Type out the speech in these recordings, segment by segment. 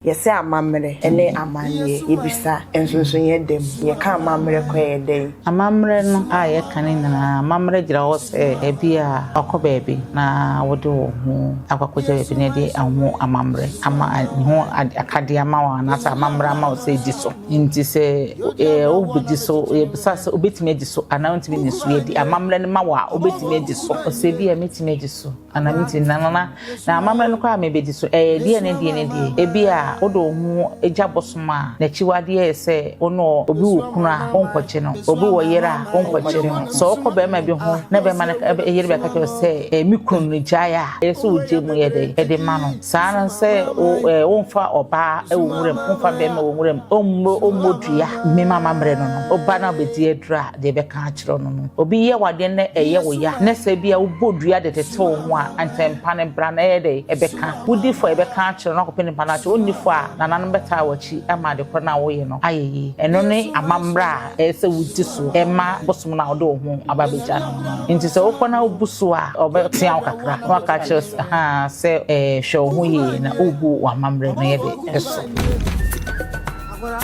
Yɛsɛ amammerɛ ne amanneɛ, yɛbisa nso nso yɛn da mu, yɛka amammerɛ kɔ yɛn da yi. Amammerɛ no a yɛka no nyinaa, amammerɛ gyina hɔ sɛ ebia wakɔ baabi na wode wo ho akɔ akɔgya baabi na ɛde ho amammerɛ ama ne ho akadeɛ ama wo anaasɛ amammerɛ ama wo sɛ di so. Nti sɛ wobɛdi so, yɛbisa sɛ wobɛtumi adi so anaa wontumi nni so. Yɛde amammerɛ no ma wo a wobɛtumi adi so. Ɔsɛ ebia mɛtumi adi so anaa mentumi nna no na Na amammerɛ no koraa a mebɛdi so, ɛyɛ deɛ ne deɛ ne deɛ? Ebia wode wo ho gya bosom a n'akyiwadeɛ yɛ sɛ wo ne ɔ, obi wɔ kunu a wonkɔgye no, obi wɔ yere a wonkɔgye no. Sɛ wokɔ barima bi ho na barima no ka, yere bɛka kyerɛ wo sɛ, Ɛɛ, me kunu no gyae a, ɛyɛ sɛ wogye mu yɛ dɛn de ma no? Saa ara ne sɛ wo, ɛɛ, womfa ɔbaa wɔ nwuram, womfa barima wɔ nwuram, ommɔ, ommɔ dua, mema amammerɛ no no, wo ba no abɛdi aduro a, deɛ ɛbɛka akyerɛ no no. Obi yɛ wo adeɛ na ɛyɛ wo ya na sɛ ebia wobɔ dua de tete wo ho a, anka mpa no bra na ɛyɛ dɛ ɛbɛka. Wodi fɔ a ɛbɛka akyerɛ no akɔpɛ nipa no akyɛ. Wonni fɔ a, nananom bɛtaa w'akyi ama ade korɔ no a woyɛ no ayɛ yie. Ɛno ne amammerɛ a ɛyɛ sɛ wodi so ma bosom no a wode wo ho aba abɛgya no no. Enti sɛ wokɔ na wobu so a, wɔbɛtea wo kakra na wɔaka akyerɛ wo sɛ, Haa sɛ hwɛ wo ho yie na wobu w'amammerɛ no yɛ dɛ so. Agora.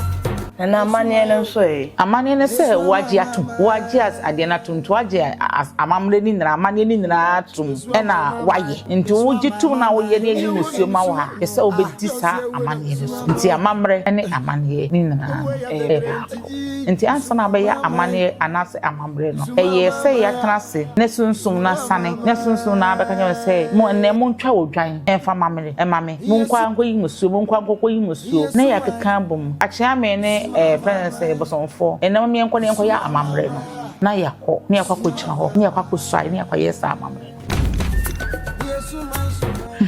Na amanneɛ no nso ɛ? Amanneɛ no sɛ wɔagye atom. Wɔagye as adeɛ no atom. Nti wɔagye amammerɛ no nyinaa, amanneɛ no nyinaa atom ɛna wɔayɛ. Nti wogye tom na woyɛ ne ayi musuo ma wo a, ɛsɛ sɛ wobɛdi saa amanneɛ no so. Nti amammerɛ ne amanneɛ no nyinaa no ɛyɛ baako. Nti ansa na wobɛyɛ amanneɛ anaasɛ amammerɛ no, ɛyɛ sɛ yɛatena ase ne sunsum no asane, ne sunsum no abɛka kyerɛ wo sɛ, mo ɛnnɛ montwa odwan ɛmfa mma me, ɛma me. Monkɔ ankɔyi mmusuo, monkɔ ankɔkɔyi mmusuo na yɛakeka abom akyea me ne ɛɛ frɛ no sɛ bosomfoɔ ɛnna mom yɛnkɔ na yɛnkɔyɛ amammerɛ no na yɛakɔ na yɛakɔ akɔgyina hɔ na yɛakɔ akɔsuae na yɛakɔyɛ saa amammerɛ no.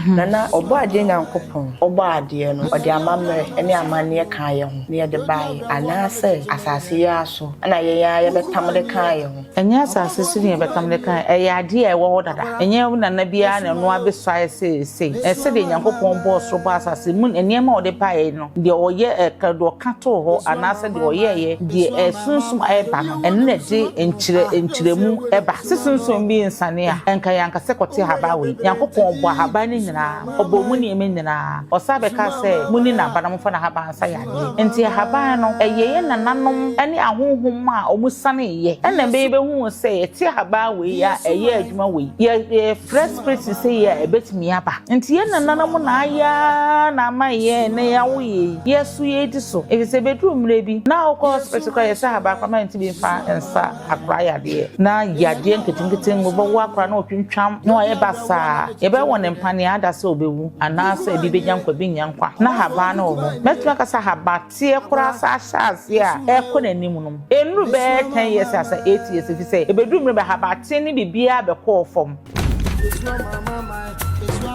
Nana, Ɔbɔadeɛ Nyankopɔn, Ɔbɔɔ adeɛ no, ɔde amammerɛ ne amanneɛ kaa yɛn ho na yɛde baeɛ anaasɛ asase yi ara so na yɛn ara yɛbɛtam de kaa yɛn ho? Ɛnyɛ asase so nea bɛtam de kae, ɛyɛ ade a ɛwɔ hɔ dada. Ɛnyɛ wo nana bi ara na ɛno abesuae seesei. Ɛyɛ sɛdeɛ Nyankopɔn bɔɔ soro bɔɔ asase, emu nneɛma a ɔde baeɛ no, deɛ ɔyɛ, ɛka, deɛ ɔka too hɔ, anaasɛ deɛ ɔyɛeɛ, deɛ ɛyɛ sunsum a ɛba no, ɛno na ɛde nkyerɛ, nkyerɛmu ba. Se sunsum bi nsiane a, ɛnka yɛanka sɛ kɔte ahaban wei. Nyankopɔn bɔɔ ahaban no nyinaa, ɔbɔɔ mu nneɛma nyinaa. Ɔsan bɛkaa sɛ, Monni n'aba na momfa n'ahaban so. kasa yadeɛ. Enti ahaban no, ɛyɛ yɛn nananom ne ahonhom a wɔsaneeɛ na ɛma yɛbɛhuu sɛ yɛte ahaban wei a ɛyɛ adwuma wei. Yɛ, yɛfrɛ spirit seesei a, ɛbɛtumi aba. Enti yɛn nananom na ayɛ ara na ama yɛn nnɛ yɛawo yei, yɛso yɛdi so. Ɛfiri sɛ ɛbɛduru mmerɛ bi, na wokɔ hospital koraa a, yɛsɛ ahaban papa ma yɛntumi mfa nsa. akora yadeɛ na yadeɛ nketenkete ngo bɛwɔ akora na ɔtwintwam na ɔyɛ basaa yɛbɛwɔ ne mpa nea ada sɛ ɔbɛwu anaasɛ ebi bɛnya nkwa bi nya nkwa na haban no wɔ hɔ mɛtumi aka sɛ haban teɛ koraa saa ahyɛ aseɛ a ɛkɔ n'anim nom ɛnuru bɛyɛ 10 years asa 8 years ɛfi sɛ ɛbɛduru mmerɛ bɛ haban teɛ ne biribiara bɛkɔɔ fam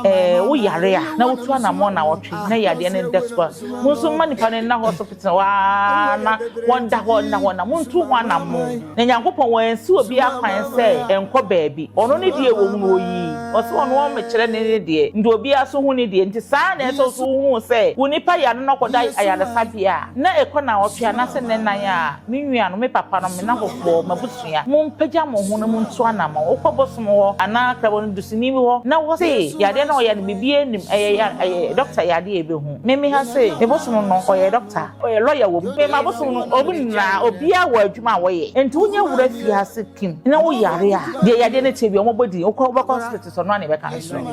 ɛɛ woyare a na wotu anammɔn na wɔtwe na yadeɛ no dɛ so a mo nso mma nipa no nna hospital Tena hɔ ara na wɔnda hɔ nna hɔ, na montu ho anammɔn. Na Nyankopɔn, Wansi obiara kwan sɛ ɛnkɔ baabi. Ɔno ne deɛ ɛwɔ mu no Ɔyi. Ɔse Ɔno Ɔmmekyerɛ ne ne deɛ, nti obiara so hu ne deɛ. Nti saa ara na ɛsɛ sɛ wohunu sɛ wo nipa yare no kɔda ayaresabea a, na ɛkɔ naawɔtwe anaase nnɛnan a, me nuanom, me papanom, me nnafɔfoɔ, m'abusuafoɔ, atua. Mompagya mo ho na montu anammɔn. Wokɔ bosom hɔ anaa krabɔ no dusini bi hɔ na wose yadeɛ no a ɔyɛ no biribiara nnim, ɛyɛ yare, ɛyɛ dɔkta yadeɛ a ɛbɛhu. Me me ha sei, me bosom no ɔyɛ dɔkta, ɔyɛ lɔya wom, me m'abosom no wɔn nyinaa obiara wɔ adwuma a wɔyɛ. Enti wo nyɛ wura fie ha se Kim na wo yare a deɛ yadeɛ no teɛ biara wɔbɔ din, wokɔ wobɛkɔ hospital so ɔno ara na ɛbɛka akyerɛ wo.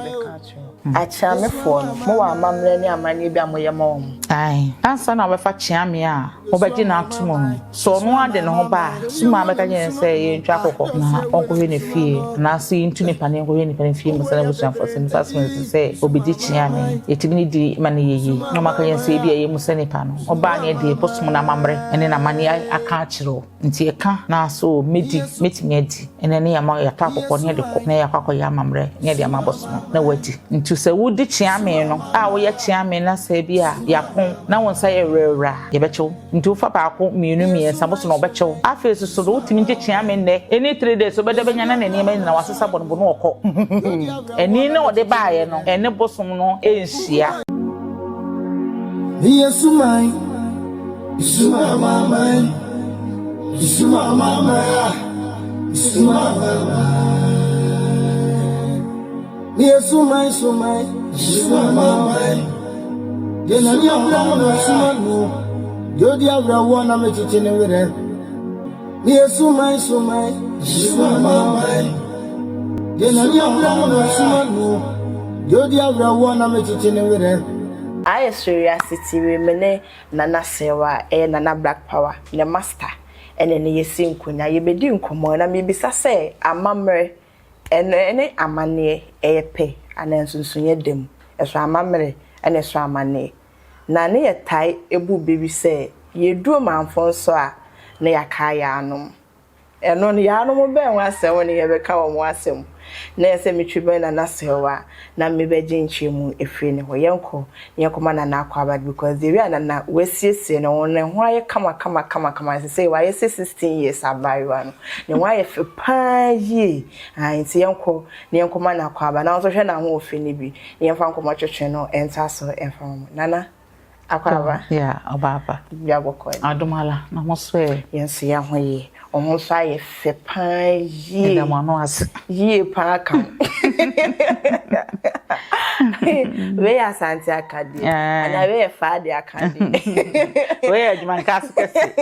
Akyeamefoɔ no, mowɔ amammerɛ ne amanneɛ bi a moyɛ ma wɔn? Ae. Ansa na wɔbɛfa kyeame a wɔbɛgye no ato mu no, sɛ ɔno ara de ne ho ba a, so mmaa bɛka kyerɛ no sɛ yɛntwa akokɔ na ɔnkɔhwɛ ne fie, anaasɛ yɛntu ne paneɛ nkɔhwɛ ne paneɛ fie mu sɛ n'abusuafoɔ sɛ nnipa asom ansi sɛ ɔbɛdi kyeame? Yɛtumi ne di ma no yɛ yie, na wɔaka kyerɛ no sɛ ebia yɛmmu sɛ nnipa no ɔbaa no yɛ dee, bosom no amammerɛ ne n'amanneɛ aka akyerɛ wo. Nti ɛka naa so o, mɛdi, mɛtumi adi, ɛnna ɛne yɛn ama yɛatɔ akɔkɔ ne yɛde kɔ, na yɛakɔ akɔyɛ amammerɛ ne yɛde ama abosom, na woadi. Nti sɛ wodi kyeame no a, woyɛ kyeame na sɛ ebi a yɛapɔn na wo nsa yɛ werɛwerɛ a, yɛbɛkyɛ wo. Nti wofa baako, mmienu, mmiɛnsa, boso na wɔbɛkyɛ wo. Afei nso so no, wotumi gye kyeame nnɛ, ɛne three days, wobɛda bɛnya na ne nneɛma nyinaa wɔasesa bɔ no bo na wɔkɔ. Ani na wɔde baeɛ no, ɛne bosom no nhyia. Meyɛ suman. Suma Amanaman, Suma Amanaman, Suma Amanaman. Ni Suma Suma Suma Amanaman. Yɛ na ni awura no na suma no. Yɛ odi awura wɔ na me kyekye ne werɛ. Ni Suma Suma Suma Amanaman. Yɛ na ni awura no na suma no. Yɛ odi awura wɔ na me kyekye ne werɛ. Ayɛ soro wiase ti remene. Nana Serwaa a ɛyɛ Nana Black Power ne Master ɛne no yɛsi nkonya. Yɛbɛdi nkɔmmɔ na mebisa sɛ amammerɛ ɛno ɛne amanneɛ ɛyɛ pɛ anaa nsonsonoeɛ da mu? Ɛso amammerɛ ɛna ɛso amanneɛ? Na ne yɛtae bu bɛ bi sɛ yɛduru manfoɔ nso a na yɛakae yɛn anom. Ɛno no, yaanom bɛn ho asɛm na yɛbɛka wɔ mo asɛm mu? Na ɛyɛ sɛ metwi bɛn Nana Serwaa na mebɛgye nkyerɛmu afiri ne hɔ. Yɛnkɔ na yɛnkɔma Nana akwaaba no because the way a Nana wasiesie ne ho, ne ho ayɛ kama kama kama kama, sesei wayɛ sɛ sixteen years abaayewa no. Ne ho ayɛ fɛ pa ara yie. Ae, nti yɛnkɔ na yɛnkɔma no akwaaba na wo nso hwɛ n'ahoɔfɛ no bi na yɛmfa nkɔmmɔtwetwe no ntoa so mfa ma mo. Nana. Akwaaba. Yeah, Obaapa. Bibia bɔkɔ ni. Adom ala, na mo so ɛ? Yɛn nso yɛ ho yie. Wɔn nso ayɛ fɛ paa yie. Ɛda mo ano ase. Yie paa ka ho. Wei yɛ asante akadeɛ. Eh. Ana wei yɛ faa de akadeɛ. Wei yɛ adwuma nkaase kɛse.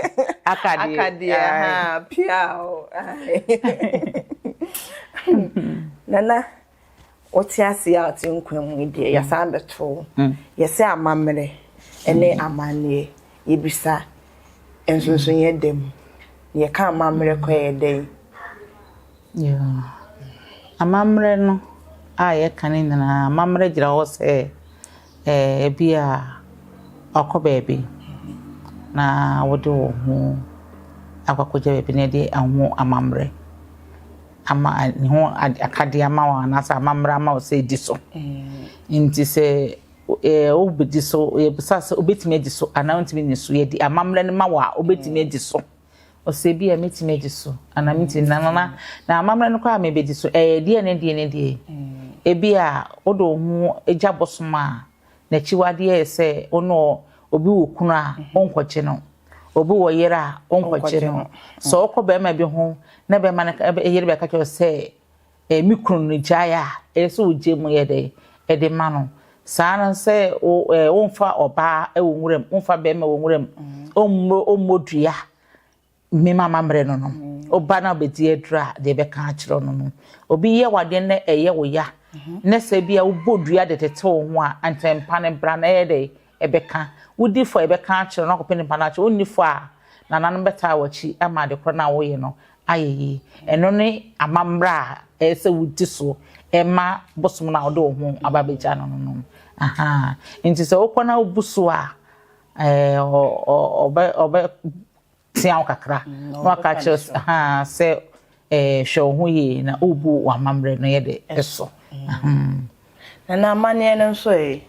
Akadeɛ. Akadeɛ, ha, pia o. Nana. wote ase a wote nkwa mu yi deɛ mm. yɛsan bɛto wo mm. yɛsɛ amammerɛ ne mm. amanneɛ yɛbisa nsonsoyɛ da mu yɛka amammerɛ kɔ yɛ dɛn amammerɛ no a yɛka no nyinaa amammerɛ gyina hɔ sɛ ebi a wakɔ baabi na wode wo ho akɔkɔgya baabi na ɛde aho amammerɛ ama ne ho akadeɛ ama wo anaasɛ amammerɛ ama wo sɛ di so mm. nti sɛ eh, wobɛdi so yɛbisa sɛ wobɛtumi adi so anaa wontumi ni so yɛde amammerɛ no ma wo a wobɛtumi adi so ɔsɛ bi a mɛtumi adi so anaa mɛtumi mm. nanana na amammerɛ no koraa mɛbɛdi so ɛyɛ deɛ ne deɛ ne deɛ mm. ebi a wode wo ho gya bosom a N'akyiwade yɛ sɛ wo ne ɔ, obi wɔ kunu a, wonkɔgye no. Obi wɔ yere a, wonkɔgye no. Sɛ wokɔ barima bi ho na barima no ka ɛ yere bɛka kyerɛ wo sɛ, ɛ me kunu no gyae a, ɛyɛ sɛ wogye mu yɛ dɛ de ma no. Saa ara na sɛ wo ɛ womfa ɔbaa wɔ nwuram, womfa barima wɔ nwuram, ommɔ ommɔ dua. Me ma amammerɛ no no, ɔba no a ɔbɛdi aduro a deɛ ɛbɛka akyerɛ no no, obi yɛ wadeɛ na ɛyɛ wo ya na sɛ bi a wobɔ dua de tete wo ho a nkyɛn mpa no bra na ɛyɛ dɛ ɛbɛka wodi fo a ɛbɛka akyerɛ no akɔpɛ nipa no akyerɛ wonni fo a nananom bɛtaa w'akyi ama ade korɔ no a woyɛ no ayɛ yi ɛno ne amammerɛ a ɛyɛ sɛ wodi so ɛma bosom no a wode wo ho aba bɛgya no no no aha nti sɛ wokɔ na wobu so a ɛɛ ɔbɛ ɔbɛ tea wo kakra na waka kyerɛ sɛ hwɛ wo ho yie na wobu w'amammerɛ no yɛ de so na na amanneɛ no nso ɛ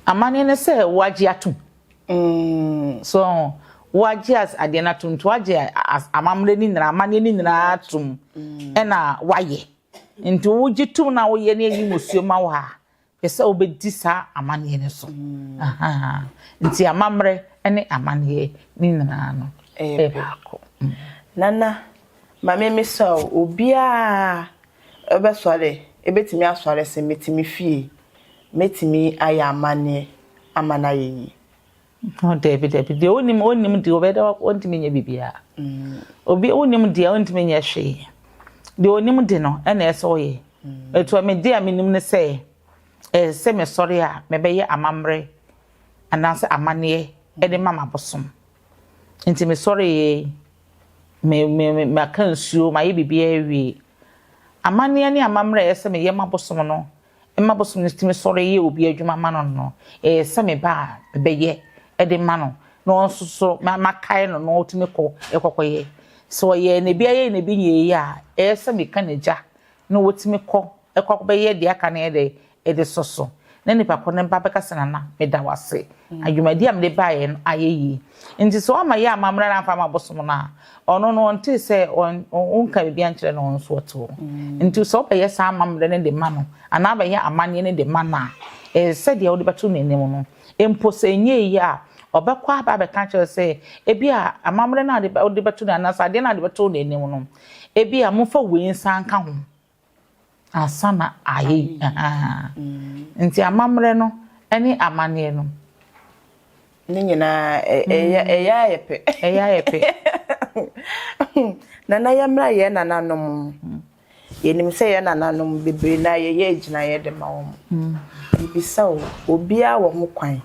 amanneɛ no sɛ woagye atom mm. so woagye adeɛ no atom nti woagye amammerɛ no nyinaa amanneɛ no nyinaa atom mm. ɛna woayɛ nti wogye tom na woyɛ ne ayi musuo ma wo a Pɛ sɛ wobɛdi saa amanneɛ no so. Nti amammerɛ ne amanneɛ ne nyinaa no yɛ baako. Nana, ma me mmisa o, obiara bɛsɔre, bɛtumi asɔre sɛ mete me fie, mɛtumi ayɛ amanneɛ ama no ayɛ yie? Ho dabi dabi deɛ onim onim deɛ ɔbɛda ɔntumi nyɛ biribiara obi onim deɛ ɔntumi nyɛ hwee deɛ onim de no ɛna ɛsɛ ɔyɛ etu ɛmi deɛ ɛmi nim ne sɛ ɛsɛ mɛ sɔre a mɛ bɛyɛ amammerɛ anaasɛ amaneɛ ɛde ma ma bosom nti mɛ sɔre yɛ mɛ mɛ mɛ mɛ aka nsuo mɛ ayɛ biribiara wie amaneɛ ne amammerɛ ɛsɛ mɛ yɛ ma bosom no. ma bosom no tumi sɔre yɛ obi adwuma ma no no, ɛyɛ sɛ me ba a mebɛyɛ de ma no na ɔno nso so makae no na ɔtumi kɔ kɔkɔyɛ. Sɛ ɔyɛ na ebi ayɛ na ebi nyɛɛ yie a, ɛyɛ sɛ meka n'agya na watumi kɔ kɔ akɔbɛyɛ deɛ aka no yɛ dɛ ɛde sɔ so. Na nipa koro no ba bɛka sɛ nana meda wo ase, adwumadi a mede baeɛ no ayɛ yie. Nti sɛ wamma yɛ ammammrɛ na amfa amma bosom no a, Ɔno no ɔntee sɛ wonka biribiara nkyerɛ no, ɔno nso ɔte hɔ. Nti sɛ wobɛyɛ saa amammerɛ no de ma no anaa wobɛyɛ amanneɛ no de ma no a, ɛyɛ sɛ deɛ wode bɛto n'anim no. Mpo sɛ ɛnyɛ yie a, ɔbɛkɔ aba abɛka akyerɛ wo sɛ, Ebia amammerɛ no a wode bɛto no anaasɛ adeɛ no a wode bɛto n'anim no, ebia momfa wei nsa nka ho. Ansa na ayɛ yi, ahaa. Nti amammerɛ no ne amanneɛ no. Ne nyinaa ɛyɛ ɛyɛ a yɛ pɛ. Ɛyɛ a yɛ pɛ. Nana yɛmmra yɛn nananom. Yɛnim sɛ yɛn nananom bebree no ara yɛyɛ agyinaeɛ de ma wɔn. Mebisa o, obiara wɔ ho kwan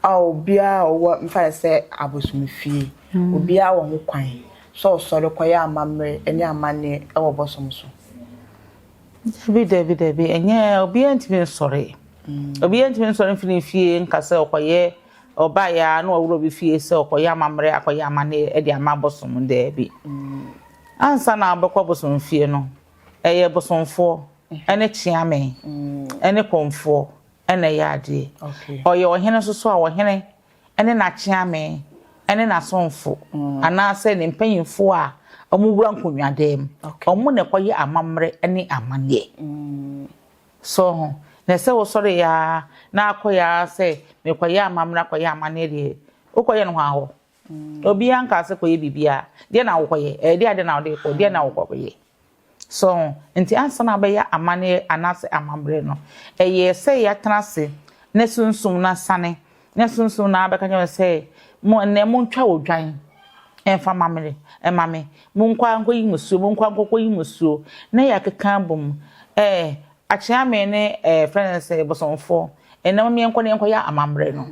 a obiara a ɔwɔ mfa no sɛ abosomfie, obiara wɔ ho kwan sɛ ɔsɔre kɔyɛ amammerɛ ne amanneɛ wɔ bosom so. Dabi, dabi, dabi, ɛnyɛ obiara ntumi nsɔre. Mm. Obiara ntumi nsɔre mfiri ne fie nka sɛ ɔkɔyɛ ɔbaeɛ a na ɔworɔ bi fie sɛ ɔkɔyɛ amammerɛ akɔyɛ amanneɛ de ama bosom daabi. Mm. Ansa na abɛkɔ bosom fie no, ɛyɛ bosomfoɔ ɛne kyeame ɛne kɔmfoɔ na ɛyɛ adeɛ. Ɔyɛ ɔhene nso so a, ɔhene ne n'akyeame ne n'asomfo mm. anaasɛ ne mpanyimfoɔ a wɔwura nkonnwadan mu. Wɔn na ɛkɔyɛ amammerɛ ne amanneɛ. Mm. So ho na ɛsɛ wosɔre ya na akɔ ya sɛ mekɔyɛ amammerɛ akɔyɛ amanneɛ deɛ wokɔyɛ no hɔ ahɔ. Obiara nkaa sɛ kɔyɛ biribiara. Deɛ na wokɔyɛ? Ɛyɛ deɛ adeɛ na wode rekɔ? Deɛ na wokɔyɛ? So ho? Nti ansa na wobɛyɛ amanneɛ anaasɛ amammerɛ no, ɛyɛ sɛ yɛatena ase na Sunsum no asiane, na Sunsum no abɛka kyerɛ me sɛ, Mo ɛnnɛ montwa odwan mfa mma me, mma me. Monkɔ ara nkɔyi mo suo, monkɔ ara nkɔkɔyi mo suo. Na yɛakeka abom. Ɛɛ, Akyeame ne ɛɛ, frɛ no sɛ, Bosomfoɔ, ɛnnɛ momma yɛnkɔ na yɛnkɔyɛ amammerɛ no.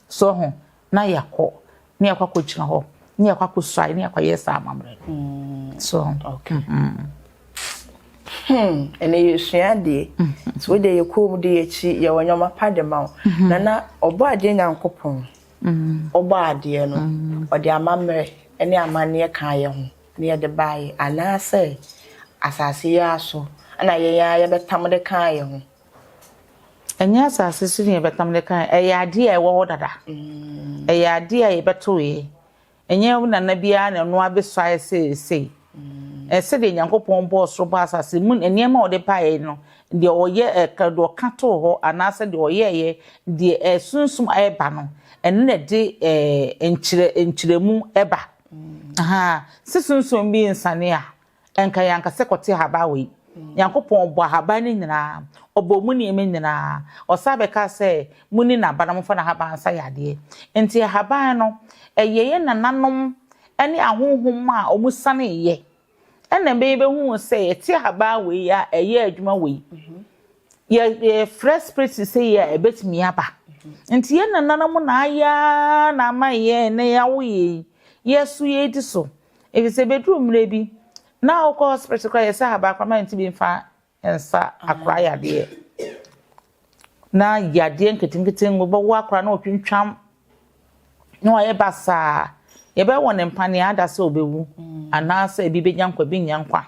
So ho na yɛakɔ ne yɛakɔ akɔgyina hɔ ne yɛakɔ akɔsuae ne yɛakɔyɛ saa amammerɛ no hmm. so okay hmm. Hmm, ɛnna yɛsua adeɛ mm-hmm. so wodeɛ yɛ kɔn mu de yɛkyi yɛwɔ nneɛma pa de ma wo mm-hmm. na na ɔbɔ adeɛ nyankopɔn mm-hmm. ɔbɔ adeɛ no ɔde amammerɛ ne amanneɛ ka yɛ ho na yɛde baayɛ anaasɛ asase yi ara so ɛna yɛn ara yɛbɛtam de ka yɛ ho Ɛnyɛ asase so na yɛbɛka mede ka ɛyɛ adeɛ a ɛwɔ hɔ dada mm. ɛyɛ adeɛ a yɛbɛtoeɛ ɛnyɛ nana biara na ɛno abɛsuaeɛ seesei mm. sɛdeɛ nyankopɔn bɔɔ soro bɔ asase mu nneɛma a ɔde baeɛ no deɛ ɔyɛ ɛka deɛ ɔka too hɔ anaasɛ deɛ ɔyɛɛyɛ deɛ ɛsunsum ɛba no ɛno na ɛde ɛɛ nkyerɛ nkyerɛmu ɛba mm. aha sɛ sunsum bi nsane a Ɛnka yɛn ankasa kɔte ahaban wei. Nyankopɔn ɔbɔɔ ahaban no nyinaa, ɔbɔɔ emu nneɛma nyinaa. Ɔsan bɛkaa sɛ, Monni n'aba na momfa n'ahaban nsa yɛ adeɛ. Enti ahaban no, ɛyɛ yɛn nananom ne ahonhom a wɔsaneeɛ na ɛma yɛbɛhuu sɛ yɛte ahaban wei a ɛyɛ adwuma wei. Yɛ, yɛfrɛ spirit seesei yi a, ɛbɛtumi aba. Enti yɛn nananom na ayɛ ara na ama yɛn nnɛ yɛawo yei, yɛso yɛredi so. Efisɛ ebeduru mmere bi, na wokɔ hospital koraa yɛsɛ ahabankora ma ntumi mfa nsa akora yadeɛ. Na yadeɛ nketenkete ngo bɛwɔ akora na ɔtwintwam na wayɛ basaa. Yɛbɛwɔ ne mpa nea ada sɛ ɔbɛwu anaasɛ ebi bɛnya nkwa ebi nya nkwa.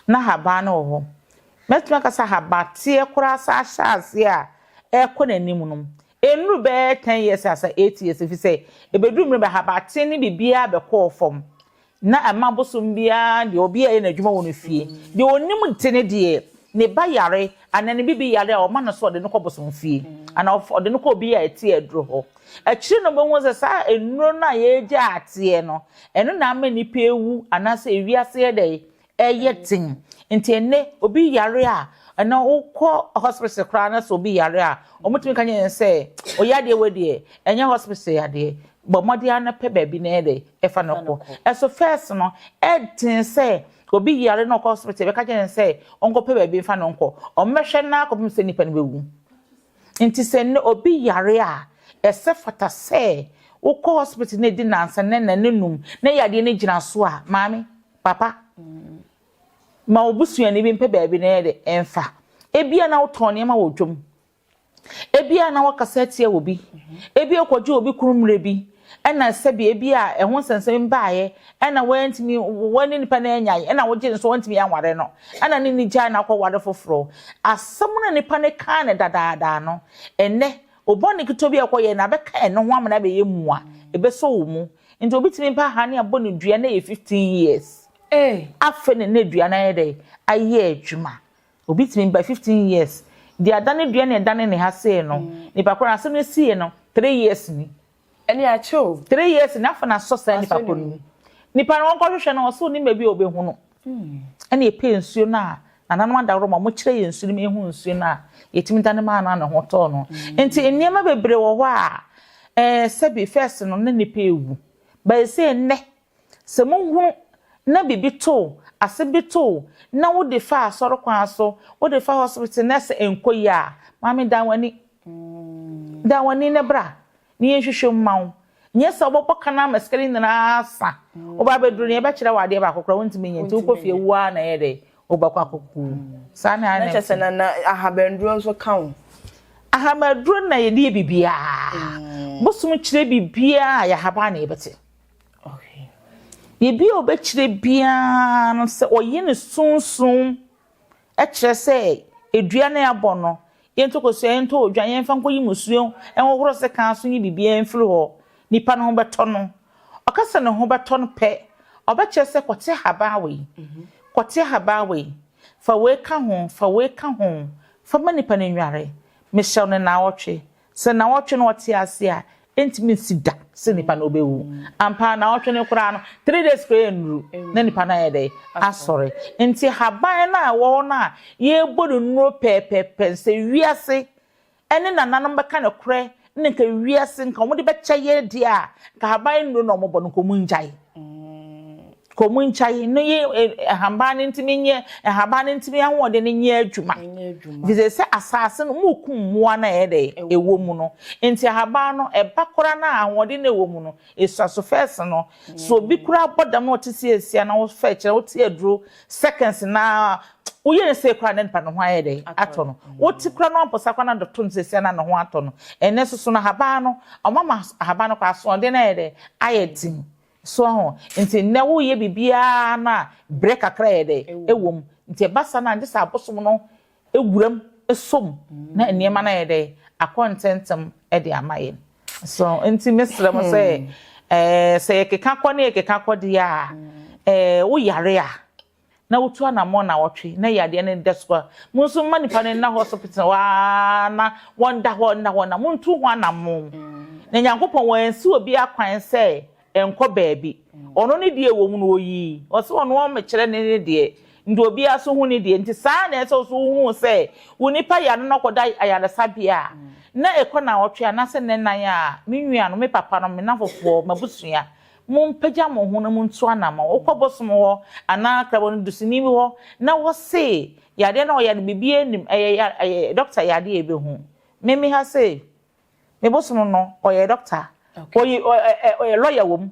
Na haban no wɔ hɔ. Mɛtumi aka sɛ habateɛ koraa saa hyɛ aseɛ a ɛrekɔ n'anim no, Ɛnnuru bɛyɛ ten years asa eight years efisɛ ɛbɛduru mmerɛ bi ahabaten ne biribiara bɛkɔɔ fam na ɛma bosom biara deɛ obiara yɛ n'adwuma wɔ ne fie deɛ ɔnim te ne deɛ ne ba yare anaa ne bibi yare a ɔma no so ɔde no kɔ bosom fie anaa ɔfa ɔde no kɔ obi a ɛte aduro hɔ akyire no ɔbɛhu sɛ saa nnuro no a yɛregya ateɛ no ɛno na ama nnipa awu anaasɛ ewiase yɛ dɛ ɛyɛ den nti ɛnɛ obi yare a ɛnɛ wokɔ hospital koraa na sɛ obi yare a wɔtumi ka nyɛ sɛ ɔyɛ adeɛ wɔ deɛ ɛnyɛ hospital yadeɛ bɔ mmɔden ara na pɛ baabi na ɛyɛ dɛ ɛfa no kɔ ɛso first no ɛden sɛ obi yare na ɔkɔ hospital bɛka kyerɛ no sɛ ɔnkɔpɛ baabi mfa no nkɔ ɔmmɛhwɛ no akɔpem sɛ nnipa no bɛwu nti sɛ nnɛ obi yare a ɛsɛ fata sɛ wokɔ hospital na ɛdi nansa na nna no num na yadeɛ no gyina so a maame Papa, ma wo busuani bi mpɛ baabi na yɛde mfa. Ebia na wotɔn nneɛma wɔ dwam. Ebia na wɔkasa atia obi. Ebia wokɔgye obi kunu mmerɛ bi, ɛna sɛbi ebia ɛho nsɛnsɛm bi baeɛ, ɛna woantumi, wo ne nipa no anyae, ɛna wogye no nso woantumi anware no, ɛna ne ni gyae na wokɔware foforɔ. Asɛm no a nipa no kaa no dadaada no, ɛnnɛ O Bɔne ketewa bi a ɛkɔ yɛɛ na abɛka ɛno ho amena abɛyɛ mua, ɛbɛsɔ wo mu. Nti obi tumi pa hane abɔ ne dua na ɛyɛ fifteen years. Ee! Afei na na dua no ayɛ dɛ? Ayɛ adwuma. Obi tumi ba fifteen years, deɛ adane dua na ɛdane ne ha sei no, nipa korɔ no asɛm no ɛsiiɛ no, three years ni. Ɛne akyɛ o. Three years ni afei na asɔ saa nipa koro no mu. Nipa no wɔn kɔ hwehwɛ no wɔsi onim baabi a ɔbɛhu no. Ɛna yɛpɛ nsuo no a nananom adaworo ma wɔkyerɛ yɛn nsuo no ma yɛhu nsuo no a yɛtumi dane maa no a ne ho tɔɔ no. Nti nneɛma bebree wɔ hɔ a ɛɛ sɛbi first no na nipa ɛwu but ɛsei nnɛ Sɛ muhunu na biribi too, ase bi too, na wode fa asɔre kwan so, wode fa hospital na sɛ ɛnkɔ yie a, maame dan w'ani, dan w'ani na bra na yɛnhwehwɛ mu mma wo. Nyɛ sɛ wobɛbɔ ka no ara ma sika no nyinaa asa. Woba abɛduru no, yɛbɛkyerɛ wo adeɛ baako koraa wontumi nyɛ, nti wokɔ fie wo ara na ɛyɛ dɛ, wobɛkɔ akɔkɔ wu. Saa na ɛyɛ. Na kyerɛ sɛ na na ahabanduro nso ka ho? Ahabanduro na yɛde yɛ biribiara. Bosom kyerɛ biribiara a, ɛyɛ ahaban na yɛbɛte. Biribi a ɔbɛkyerɛ biara no sɛ ɔyi ne sunsum kyerɛ sɛ dua no a yɛabɔ no, yɛntɔ kosua, yɛntɔ odwan, yɛmfa nkɔyi mmusuo, ɛnhohoro sekan so ne biribiara mfiri hɔ. Nnipa no ho bɛtɔ no. Ɔka sɛ ne ho bɛtɔ no pɛ, ɔbɛkyerɛ sɛ kɔte ahaban wei, kɔte ahaban wei, fa wei ka ho, fa wei ka ho, fa ma nipa no nnware. Mehyɛ wo no nnawɔtwe, Sɛ nnawɔtwe na ɔte ase a, ɛntumi nsi da sɛ nipa no bɛwu. Ampa ara, nnawɔtwe no koraa no, three days koraa ɛnnuru na nipa no ayɛ dɛn? Asɔre. Nti haban no a ɛwɔ hɔ no a yɛrebɔ no nnuro pɛɛpɛɛpɛ no, sɛ wiase ne nananom bɛka nokorɛ na nka wiase nka wɔde bɛkyɛ yɛn deɛ a, nka haban nnuro na wɔbɔ no, nka wɔngyae. Komunkyayi no ye nhaban no ntumi nyɛ nhaban no ntumi ahoɔden no nyɛ adwuma efisɛ sɛ asaase no mokum mmoa no a ɛyɛ dɛ ɛwɔ mu no nti ahaban no ɛba koraa no a ahoɔden no a ɛwɔ mu no ɛsua so fɛs no sɛ obi koraa bɔ dam na ɔte sɛ asia na wofɛ kyerɛ wote aduro seconds na woyɛ ne sei koraa na nipa ne ho ayɛ dɛ atɔ no wote koraa no ampɔsa koraa na dɔto no sɛsia na ne ho atɔ no ɛnɛ soso no ahaban no ɔmama ahaban no koraa asoɔden no ayɛ dɛ ayɛ den so ho nti nnɛ woyɛ biribiara no a berɛ kakra yɛ dɛ ɛwom nti ɛba saa no agye sɛ abosom no wuram som na nneɛma no ayɛ dɛ akɔ ntɛntɛm de ama yɛn. So nti mesrɛ mo sɛ hmm. eh, sɛ yɛkeka kɔ ne yɛkeka kɔ deɛ a eh, woyare a na wotu anammɔn na wɔtwe na yadeɛ no da so a mo nso mma nipa no nna hospital waa na wɔnda hɔ nna hɔ na montu ho anammɔn hmm. na nyankopɔn wɔansi obi akwan sɛ Ɛnkɔ baabi. Ɔno ne deɛ ɛwɔ mu no ɔyii. Ɔse ɔno ɔmmekyerɛ ne ne deɛ. Nti obiara so hu ne deɛ. Nti saa ara na ɛsɛ sɛ wo so wo hu sɛ wo nipa yare no na ɔkɔda ayaresabea a, na ɛkɔ nnawɔtwe anaasɛ nnanan a, me nua nom, me papa nom, me nnafofoɔ, m'abusua, mo mpagya mo ho na mo ntu anamɔn. Wo kɔ bosom hɔ anaa krabɔni dusini bi hɔ na wɔ se yadeɛ no a ɔyare no biribiara nnim, ɛyɛ ya ɛyɛ dɔkta yadeɛ a ɛbɛhu. Me me ha sei, me bosono no ɔyɛ doctor oyi ɔyɛ lawyer wɔ mu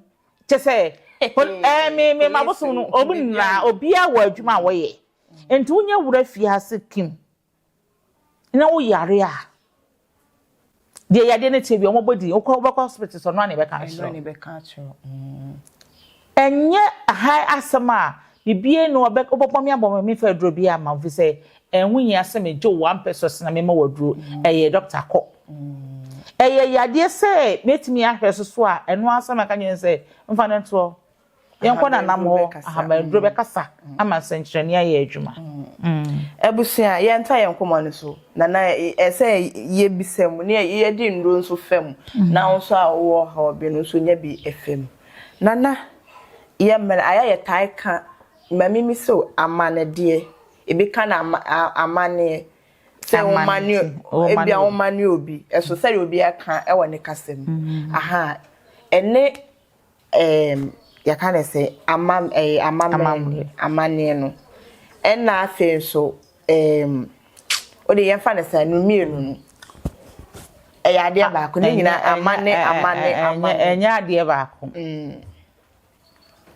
kyɛ sɛ ɛɛ me me ma bosono no ɔmu nyinaa obiara wɔ adwuma a wɔyɛ nti wonya wura fiase kim na woyare a deɛ yadeɛ no te bi wɔn bɔ din wokɔ wobɛkɔ hospital sɛ ɔno a na ɛbɛka akyerɛ Ɛnyɛ hann asɛm a biribiara nni hɔ a wobɛbɔ me abɔ me a memfa aduro biara mma wo ɛfiri sɛ ɛho hia sɛ megye wo w'ampɛ so sene mema wo aduro. Ɛyɛ dɔkta kɔ. Ɛyɛ yadeɛ sɛ mɛtumi ahwɛ so so a, ɛno ara sɛ mɛka nyɛ sɛ mfa no ntoɔ. Yɛnkɔ nanam hɔ, ahaban aduro bɛkasa ama nsɛnkyerɛnne ayɛ adwuma. Abusua, yɛntaa yɛn nkɔmmɔ no so. Nana, ɛsɛ sɛ yɛbisa mu, na yɛde nnuro nso fa mu. Na wo nso a wowɔ ɔhaw bi no nso nya bi fa mu. Nana, yɛ mmerɛ a yɛ a yɛtae ka ma me mi sɛ o, amannedeɛ, ebi ka no ama, a, amanneɛ, sɛ wo ma ne, ebia wo ma ne obi, ɛso sɛdeɛ obi aka wɔ ne kasa mu, aha, ɛne, ɛɛm, yɛka no sɛ, ama, ɛɛ, amammerɛ, amanneɛ no, ɛna afei nso, Ɛɛm, o de yɛn fa ne saa, no mmienu no, ɛyɛ adeɛ baako, ne nyina amane, amane, amane. Ɛnyɛ adeɛ baako.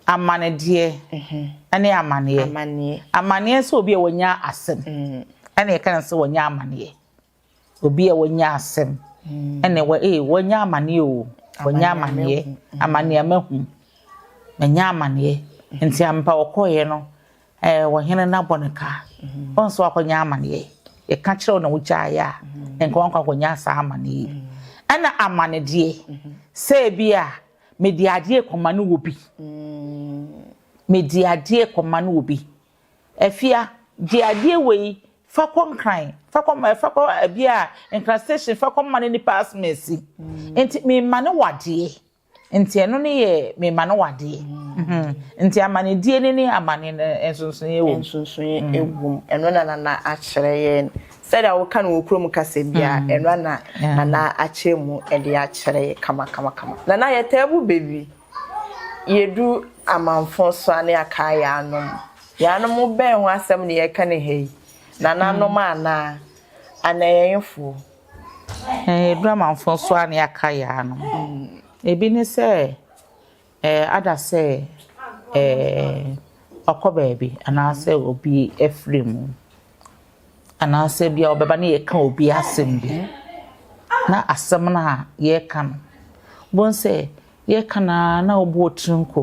Amanedeɛ ɛne amaneɛ. Amaneɛ. Amaneɛ sɛ obi a wanya asɛm, ɛna yɛka no sɛ wanya amaneɛ. Obi a wanya asɛm ɛna wɔ ee wanya amaneɛ o wanya amaneɛ amaneɛ mahu manya amaneɛ nti ampa ɔkɔɔyɛ no ɛɛ wɔhene no abɔ ne ka wɔn nso akɔnya amaneɛ yɛka kyerɛw na wogyaeɛ a nka wɔn akɔnya saa amaneɛ yi ɛna amanedeɛ sɛ ebi a mede adeɛ kɔma no wɔ bi mede adeɛ kɔma no wɔ bi. Afia, gye adeɛ wei, fa kɔ Nkran, fa kɔ ma, fa kɔ ɛbi a, Nkran station, fa kɔ ma no nipa asem asi. Nti memane wo adeɛ. Nti ɛno ne yɛ memane wo adeɛ. Nti amanedie no ne amane no nsonsonoeɛ wɔ mu. Nsonsonoeɛ wɔ mu. Ɛno na Nana akyerɛ yɛn. Sɛdeɛ woka no wɔ kurom kasa biara, ɛno na Nana akyerɛ mu de akyerɛ yɛn kama kama kama. Nana yɛtaa bu bɛ wie. yedu amamfõ so a na yɛakaa yɛanom. Yɛanom bɛn ho asɛm na yɛreka no ha yi? Nananom mm. anaa anayɛyefoɔ? Yɛdu amamfõ so a na yɛaka yɛanom. Mm. Ebi ne sɛ eh, ada sɛ eh, ɔkɔ baabi anaasɛ obi afiri mu. Anaasɛ bi a wɔbɛba na yɛka obi asɛm bi, na asɛm no a yɛreka no, wobɛhu sɛ yɛreka no ara na wobɔ wo tiri nko,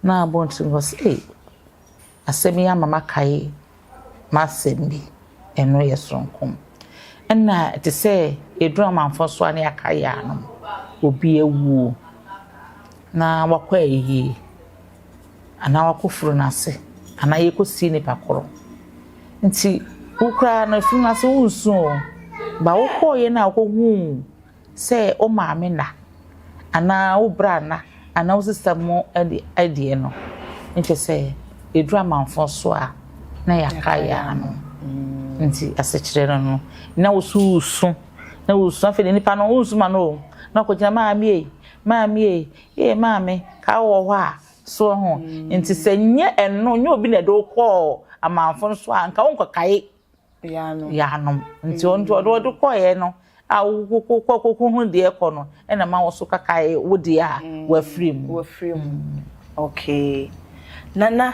na wobɔ wo tiri nko sɛ, Ei, asɛm yi ama makae m'asɛm bi. Ɛno yɛ soronko. Ɛnna ɛte sɛ yɛduru amanfoɔ so a na yɛaka yɛn ano, obi awuo, na wakɔ ayie. Anaa wakɔforo no ase. Anaa yɛkɔsie nipa korɔ. Nti wo koraa no afiri no ase wonsu oo, but wokɔeɛ no a wokɔhuu sɛ wo maame nna, anaa wo bra nna, anaa wo sista mu deɛ no, ne kyerɛ sɛ yɛduru amanfoɔ so a na yɛaka yɛn ano. Nti asekyerɛ no no, na wo so wosu, na wosu, afei deɛ nipa no wonsu ma no oo, na ɔkɔgyina maame ei, maame ei, Ee maame, kaa wowɔ hɔ a, so ohu? Nti sɛ nyɛ ɛno, nyɛ obi na ɛde wo kɔɔ amanfo nso a, nka wonkɔkae Yanom. Nti ɔno deɛ ɔde kɔeɛ no a wokɔ kɔhunu deɛ ɛkɔ no na ma wo nso kakae wo deɛ a wafiri mu. Wafiri mu. Okay. Nana,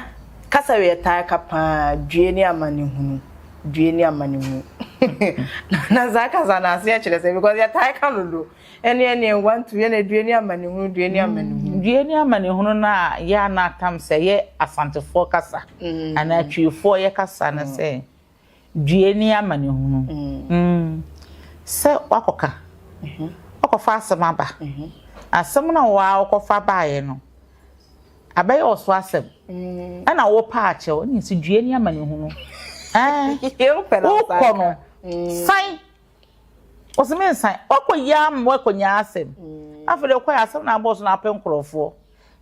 kasa wei ɛtaa ka paa, due ne amanehunu, due ne amanehunu. Nana saa kasa no aseɛ kyerɛ sɛn because yɛtaa ka no dodo. Ɛne ɛne ɛwa nto yɛ na due ne amanehunu due ne amanehunu. Due ne amanehunu no a yɛ a na atam sɛ ɛyɛ asantefoɔ kasa anaa tweefoɔ yɛ kasa no sɛ due ne amanehunu sɛ wakɔka wakɔfa asɛm aba asɛm no a waa wokɔfa baeɛ no abɛyɛ wo so asɛm ɛna wo paa kyɛ wo ne sɛ due ne amanehunu ɛɛ wokɔ no san ɔsɛ mensan wakɔ yia ama wakɔ nyaa asɛm afei de ɔkɔ yɛ asɛm na abɔɔso na apɛ nkorɔfoɔ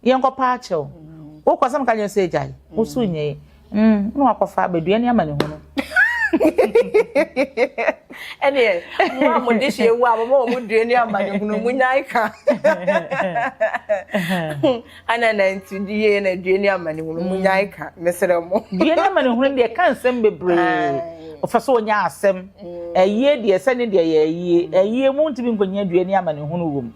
yɛn kɔ paa kyɛw wokɔ asɛm ka nyɛ sɛ agya yi wosu nyɛ yi mm na wakɔ fa abɛdua ne ama ne ho no ɛneɛ mo a mo de hyɛ ewu a mo ma wɔn dua ne ama ne ho no mo nyan ka Ana na nti die na due ne amanehunu mu nyae mm. ka mesrɛ mo. Due ne amanehunu deɛ ka nsɛm bebree. Ɔfɛ sɛ ɔnya asɛm. Mm. Ayie deɛ sɛ ne deɛ yɛ ayie. Mm. Ayie mu ntumi nkɔnya due ne amanehunu wɔ mu.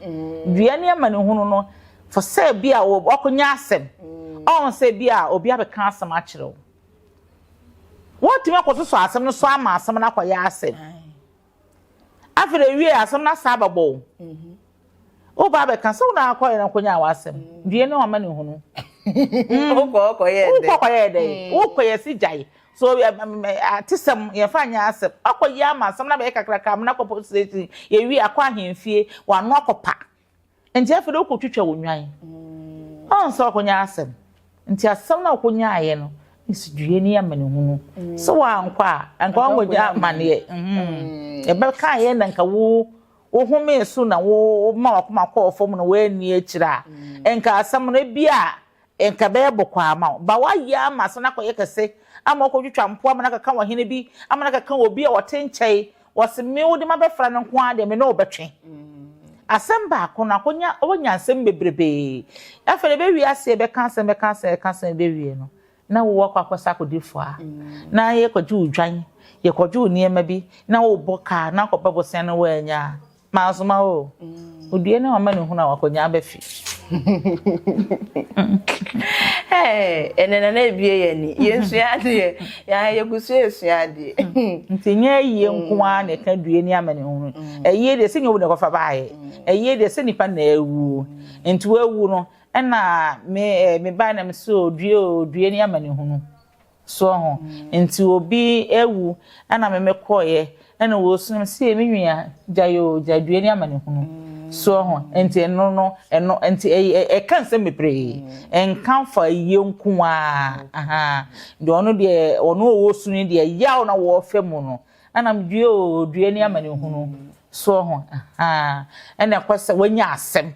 Due ne amanehunu no fɔ sɛ bi a ɔkɔnya asɛm. Ɔn sɛ bi a obi abɛka asɛm akyerɛ wo. Wɔtumi akɔsosɔ asɛm no so ama asɛm no akɔyɛ asɛm. Afei na ewiee asɛm no asan abɛbɔ wo. Woreba abɛka sɛ wo na akɔyɛ no akɔnyaa w'asɛm. Due ne w'amanehunu. Wokɔ hɔ kɔyɛɛ dɛn? Wokɔ kɔyɛɛ dɛn? Wokɔ yɛ se gyae. So atesɛm yɛmfa nyɛ asɛm. Woakɔyɛ ama asɛm no abɛyɛ kakrakra amena akɔ police station, yɛwie akɔ ahemfie, w'ano akɔpa. nti afei de wokɔtwitwa wo nnwan ɔn sɛ wakɔnya asɛm nti asɛm no a wokɔnyaeɛ no nsidwuiɛ ne amanehunu sɛ wankɔ a anka wankɔgya amaneɛ ɛbɛkaeɛ na nka wo wohomee so na woma wakoma kɔɔ fam na woanni akyire a nka asɛm no bi a Nka ɛbɛyɛ bɔkɔɔ ama wo. Ba woayɛ ama asan akɔyɛ kɛse ama wokɔtwitwa mpoa ama no akeka w'ɔhene bi ama no akeka obi a ɔte nkyɛe wɔse me wode mabɛfra no nko ara deɛ me ne wo bɛtwe asɛm baako no akɔnya wanya nsɛm bebrebee afei deɛ ɛbɛwie aseɛ bɛka asɛm bɛka asɛm bɛka asɛm ɛbɛwie no na wo akɔ akɔsa akɔdi fua na yɛkɔgye wo dwan yɛkɔgye wo nneɛma bi na wobɔ kaa na akɔba bosea no woanya Mansoma o, odue ne w'amanehunu a w'akonnyaa bɛfe. Ɛnɛ na na ebie yɛ ni, yɛsua adeɛ, yɛn yɛgu so yɛsua adeɛ. Nti nyɛ ayie nko ara na ɛka due ne amanehunu. Ayie deɛ sɛ nyɛ obi na ɛkɔfa baeɛ, ayie deɛ sɛ nipa na awuo. Nti wawu no ɛna me bae na mese o due o, due ne amanehunu. So ɔho nti obi awu ɛna me me kɔɔyɛ ɛna wɔsunu me sie me nua gya yoo gya due ne amanehunu so ɔho nti ɛno no ɛno nti ɛka nsɛm bebree ɛnka fa yie nko ara deɛ ɔno deɛ ɔno ɔwɔ sunu deɛ yaw na wɔɔfɛ mu no ɛna me due oo due ne amanehunu so ɔho ɛna ɛkɔ sɛ wɔanya asɛm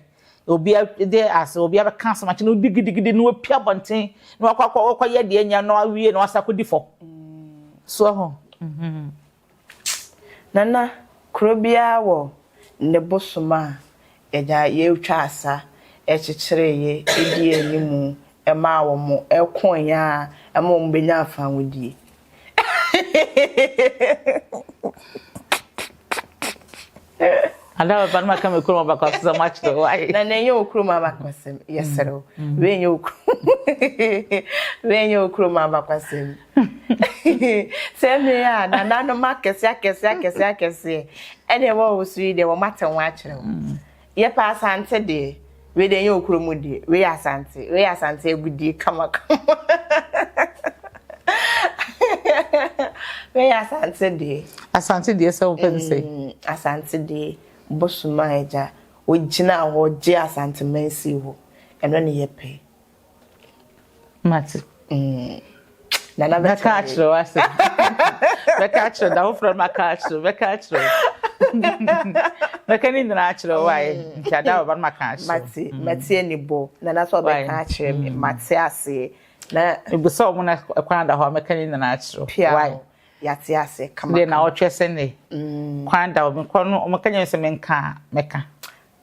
Obi de ase, obi abɛka asɛm akyerɛ no digidigidi na wapia abɔnten na wakɔ akɔ wakɔ yɛ deɛ nya na wawie na wasa kɔdi fam. So ho. Mhm. Nana, kuro biara wɔ ne bosom a yɛnya yɛtwa asa kyekyere yɛ ɛdi animu ɛma wɔn ɛko yɛn a ɛma wɔn bɛnya afanwodie. ada bɛba no maka me kurom abakɔsɛm akyerɛ wo aye na na ɛnyɛ wo kurom abakɔsɛm yɛserɛ wo mm. wei nyɛ wo kurom wei nyɛ wo kurom abakɔsɛm sɛ mmere a nananom akɛse akɛse akɛse akɛseɛ ɛne ɛwɔ wo so yi deɛ wɔmatɛ ho akyerɛ wo mm. Yɛpɛ Asante deɛ. Wei deɛ ɛnyɛ wɔ kuro mu deɛ. Wei yɛ Asante. Wei yɛ Asante agudie kamakama. Wei yɛ Asante deɛ. Asante deɛ sɛ wopɛ no sɛ. Mm, Asante deɛ bosoma agya. Ogyina hɔ gye Asante man sii hɔ. Ɛno ne yɛpɛ. mate mm. nana bɛka akyerɛ wo asɛ bɛka akyerɛ da woforɔ no maka akyerɛ bɛka akyerɛ wo bɛka ne nyinaa akyerɛ wo ayɛ mm. nti ada wɔba no maka akyerɛ mate mm. mate ani bɔ nana sɛ ɔbɛka akyerɛ me mm. mate aseɛ na ebisa ɔmo na kwan da hɔ a mɛka ne nyinaa akyerɛ wo pia yate aseɛ kama deɛ na ɔtwɛ sɛ ne kwan da hɔ mekɔ no ɔmo ka nyɛ sɛ menka mɛka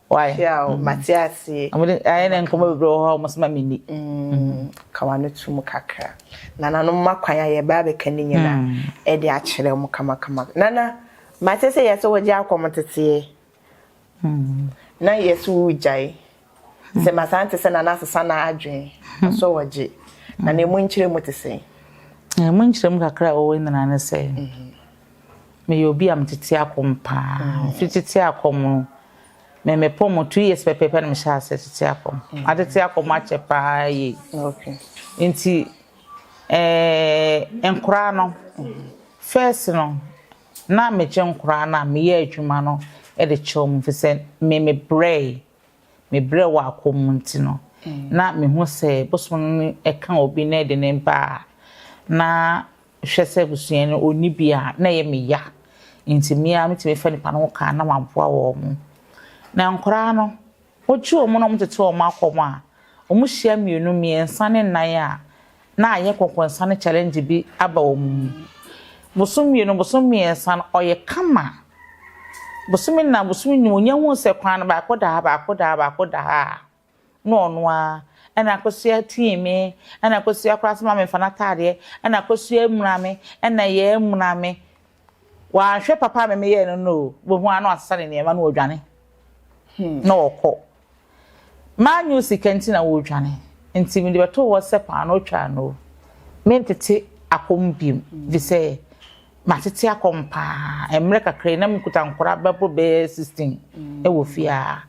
Why? Tiao, mm. mate aseɛ. Ayɛ na nkɔmɔ bebree wɔ hɔ a wɔn soma mi ni. Mm. Ka wano to mu kakra. Nana no mma kwan ayɛ baa bɛka ne nyina ɛde mm. akyerɛ wɔn kamakama. Nana, mate sɛ yɛsɛ wɔgye akɔm teteɛ. Mm. Na yɛsɛ wogyae. Sɛ masan te sɛ nana asesa na adwene. Asɔ wɔgye. Na na emu nkyerɛ mu te sɛ. Emu nkyerɛ mu kakra a wɔwɔ nyinaa ne sɛ. Mm-hmm. Meyɛ obi a metete akɔm paa. Mfi tete akɔm no, me mepɔ mo two years pɛpɛɛpɛ na mehyɛ ase tete akɔm. Matete akɔm akyɛ paa yie. Nti ɛɛ nkoraa no, first no, na megye nkoraa no a meyɛ adwuma no de kyɛ wɔn fi sɛ me mebrɛe. Mebrɛ wɔ akɔm mu nti no, na mehu sɛ bosom no ɛka obi na ɛde ne ba a, na Hwɛ sɛ abusua no ɔnni bi a, na ɛyɛ me ya nti me ara mɛtumi afa nnipa no ho ka na maboa wɔn. Na nkwadaa no, wɔgye wɔn na wɔtete wɔn akɔ mu a, wɔhyia mmienu, mmiɛnsa ne nnan a, na ayɛ nkɔnkɔnsa ne challenge bi aba wɔn mu. Bosome mmienu, bosome mmiɛnsa no, ɔyɛ kama. Bosome nnan, bosome nnum, wɔnya hu sɛ kwan no baako da ha, baako da ha, baako da ha a, na ɔno ara, ɛna akosua tii me, ɛna akosua koraa soma me mfa n'ataadeɛ, ɛna akosua amuna me, ɛna yɛn amuna me. Wanhwɛ papa a me meyɛɛ no no o, wobɛhu ara na wasesa ne nneɛma na ɔredwane na ɔrekɔ. Mannye sika nti na ɔredwane, nti mede bɛtoo hɔ sɛ paanoo twaa no o, mentete akɔm biom, ɛfiri sɛ matete akɔm pa ara, mmerɛ kakra yi na mekuta nkwadaa bɛboro bɛyɛ 16 wɔ fie ha.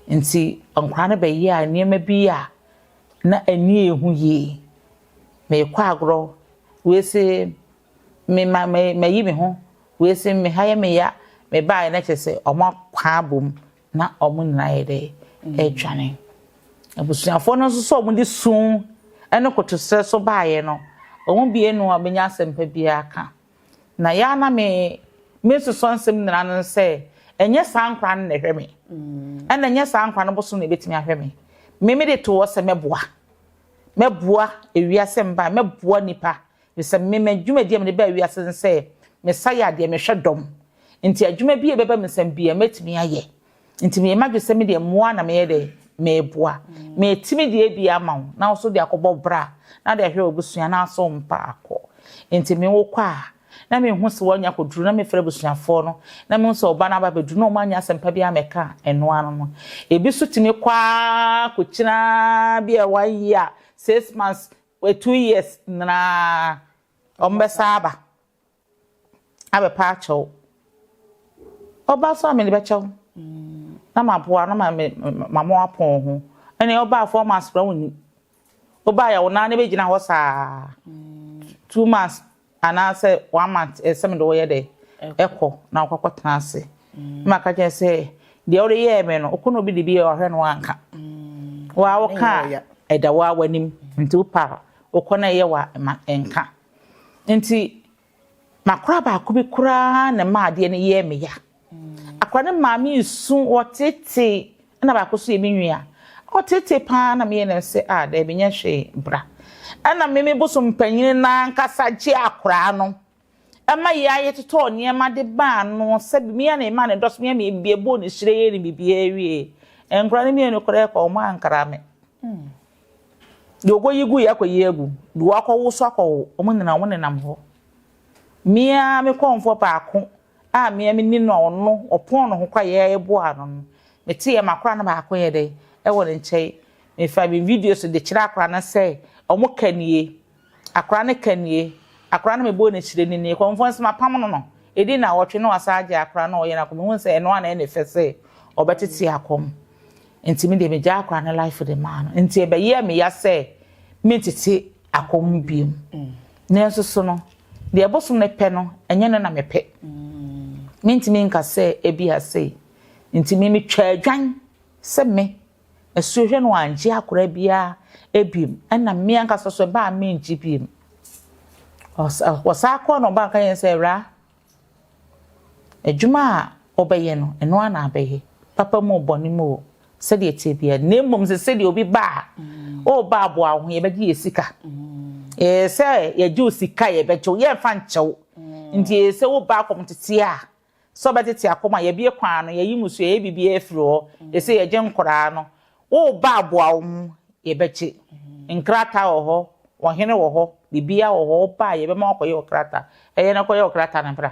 Ntsi nkwadaa no bɛyɛɛ nneɛma bi a na ani yɛ hu yie. Merekɔ agorɔ, wei se mema me mayi me ho, wei se me ha yɛ me ya, mebaeɛ no kyerɛ sɛ wɔapaa abɔ mu na wɔn nyinaa ayɛ dɛ redwane. Abusuafoɔ no nso sɛ wɔde su ne kotoserɛ so baeɛ no, wɔn mmienu a wɔbɛnya asɛmpa biara ka. Na ya na me me nsosɔ nsɛm nyinaa no sɛ ɛnyɛ saa nkora no na ɛhwɛ me ɛna ɛnyɛ saa nkora no bosom na ɛbɛtumi ahwɛ me me me de to hɔ sɛ mɛboa mɛboa ewiase mba mɛboa nipa sɛ me m'adwumadi a mede ba ewiase no sɛ mesa yɛ adeɛ mehwɛ dɔm nti adwuma bi a ɛbɛba me nsɛm bi a mɛtumi ayɛ Nti meyɛ m'adwene sɛ medeɛ mmoa na meyɛ dɛn? Meboa. Metumi deɛ bi ama wo na wo nso de akɔbɔ bra na wode ahwɛ w'abusua na asɔ wo mpaako. Nti me wokɔ a na menhu sɛ woanya akɔduru na mefrɛ abusuafoɔ no na mehu sɛ wo ba no aba abɛduru na wɔannya asɛmpa biara ammɛka ɛno ano no. Ebi nso tumi kɔ ara kɔkyina bi a one year, six months, two years nyinaa wɔbɛsan aba. abɛpa akyɛ wo. Ɔba so a mede bɛkyɛ wo na maboa na mama apɔn wo ho. Ɛne ɔbaa fo ɔma asra wo ni. Ɔbaa yɛ wo nan na bɛgyina hɔ saa two months anaasɛ one month ɛsɛ mede wɔyɛ dɛ ɛkɔ na wokɔkɔ tena ase. Mm. Ma ka kyerɛ sɛ deɛ wode yɛɛ me no wokɔ na obi de bi yɛ ɔhwɛ no anka. Mm. Waa woka ɛda waa w'anim nti wopa wokɔ na ɛyɛ wa ma ɛnka. Enti m'akora baako bi koraa na ɛmaa adeɛ no yɛɛ me ya. Akora no maa me nsu, ɔtetee, ɛna baako nso yɛ me nua. Ɔtetee paa na meyɛ no sɛ, ah daabi nyɛ hwee, bra. Ɛna me me bosom panyin no ankasa gyee akora no ma yɛa yɛtotɔɔ nneɛma de baa ano sɛ me ara na memaa no dɔs, me ara na mebɔɔ no hyire yɛɛ no biribiara wiee. Nkora no mmienu koraa kɔɔ, wɔankra me. Deɛ ɔkɔyi gu yɛ akɔyi agu, deɛ wakɔwo nso akɔwo, wɔn nyinaa wɔnenam hɔ. Me ara me kɔmfoɔ baako a me ara meni no a ɔno ɔpɔn ne ho kɔ a yɛn ara yɛboaa no no, meteeɛ ma akwadaa no baako yɛ dɛn? Ɛwɔ ne nkyɛn. Mefaa me videos de kyerɛɛ akwadaa no sɛ wɔka nie. Akora no ka nie. Akora no mebɔɔ no akyire no nie. Kɔmfoɔ nso mapam no no. Ɛdi nnawɔtwe na wasan agyae akora no a ɔyɛ no akɔ. Mehuu sɛ ɛno ara na ɛyɛ ne fɛ sɛ ɔbɛtete akɔ. Nti me deɛ megyaa akora no life de maa no. Nti ɛbɛyɛɛ me ya sɛ mentete akɔ mu bio. Nanso so no, deɛ bosom no pɛ no, ɛnyɛ no na mepɛ. Mentumi nka sɛ ebia sei nti me metwaa dwan sɛ me. Asuahwɛ no anngye akora biara biom, ɛna me ankasa so ɛbaa menngye biom. Ɔsaa kɔɔ na ɔbaa ɔka kyerɛɛ me sɛ, Awuraa, adwuma a wobɛyɛ no, ɛno ara na abɛyɛ, papa mu o, bɔne mu o, sɛdeɛ ɛteɛ biara, na mmom sɛ sɛdeɛ obi ba a, woreba aboa wo ho, yɛbɛgye yɛ sika. Ɛyɛ sɛ yɛgye wo sika a, yɛbɛgye wo, yɛremfa nkyɛ wo. Nti ɛyɛ sɛ woba akɔmtete a, sɛ ɔbɛtsetse akoma, yɛbea kwan no, yɛye mu su, yɛyɛ biribiara firi hɔ, yɛsɛ yɛgye nkoraa no, wo ba aboa wo ho, yɛbɛgye nkrataa wɔ hɔ, ɔhene wɔ hɔ, biribiara wɔ hɔ, wo ba a yɛbɛma wakɔyɛ wɔ krataa, ɛyɛ no kɔyɛ wɔ krataa no mpra.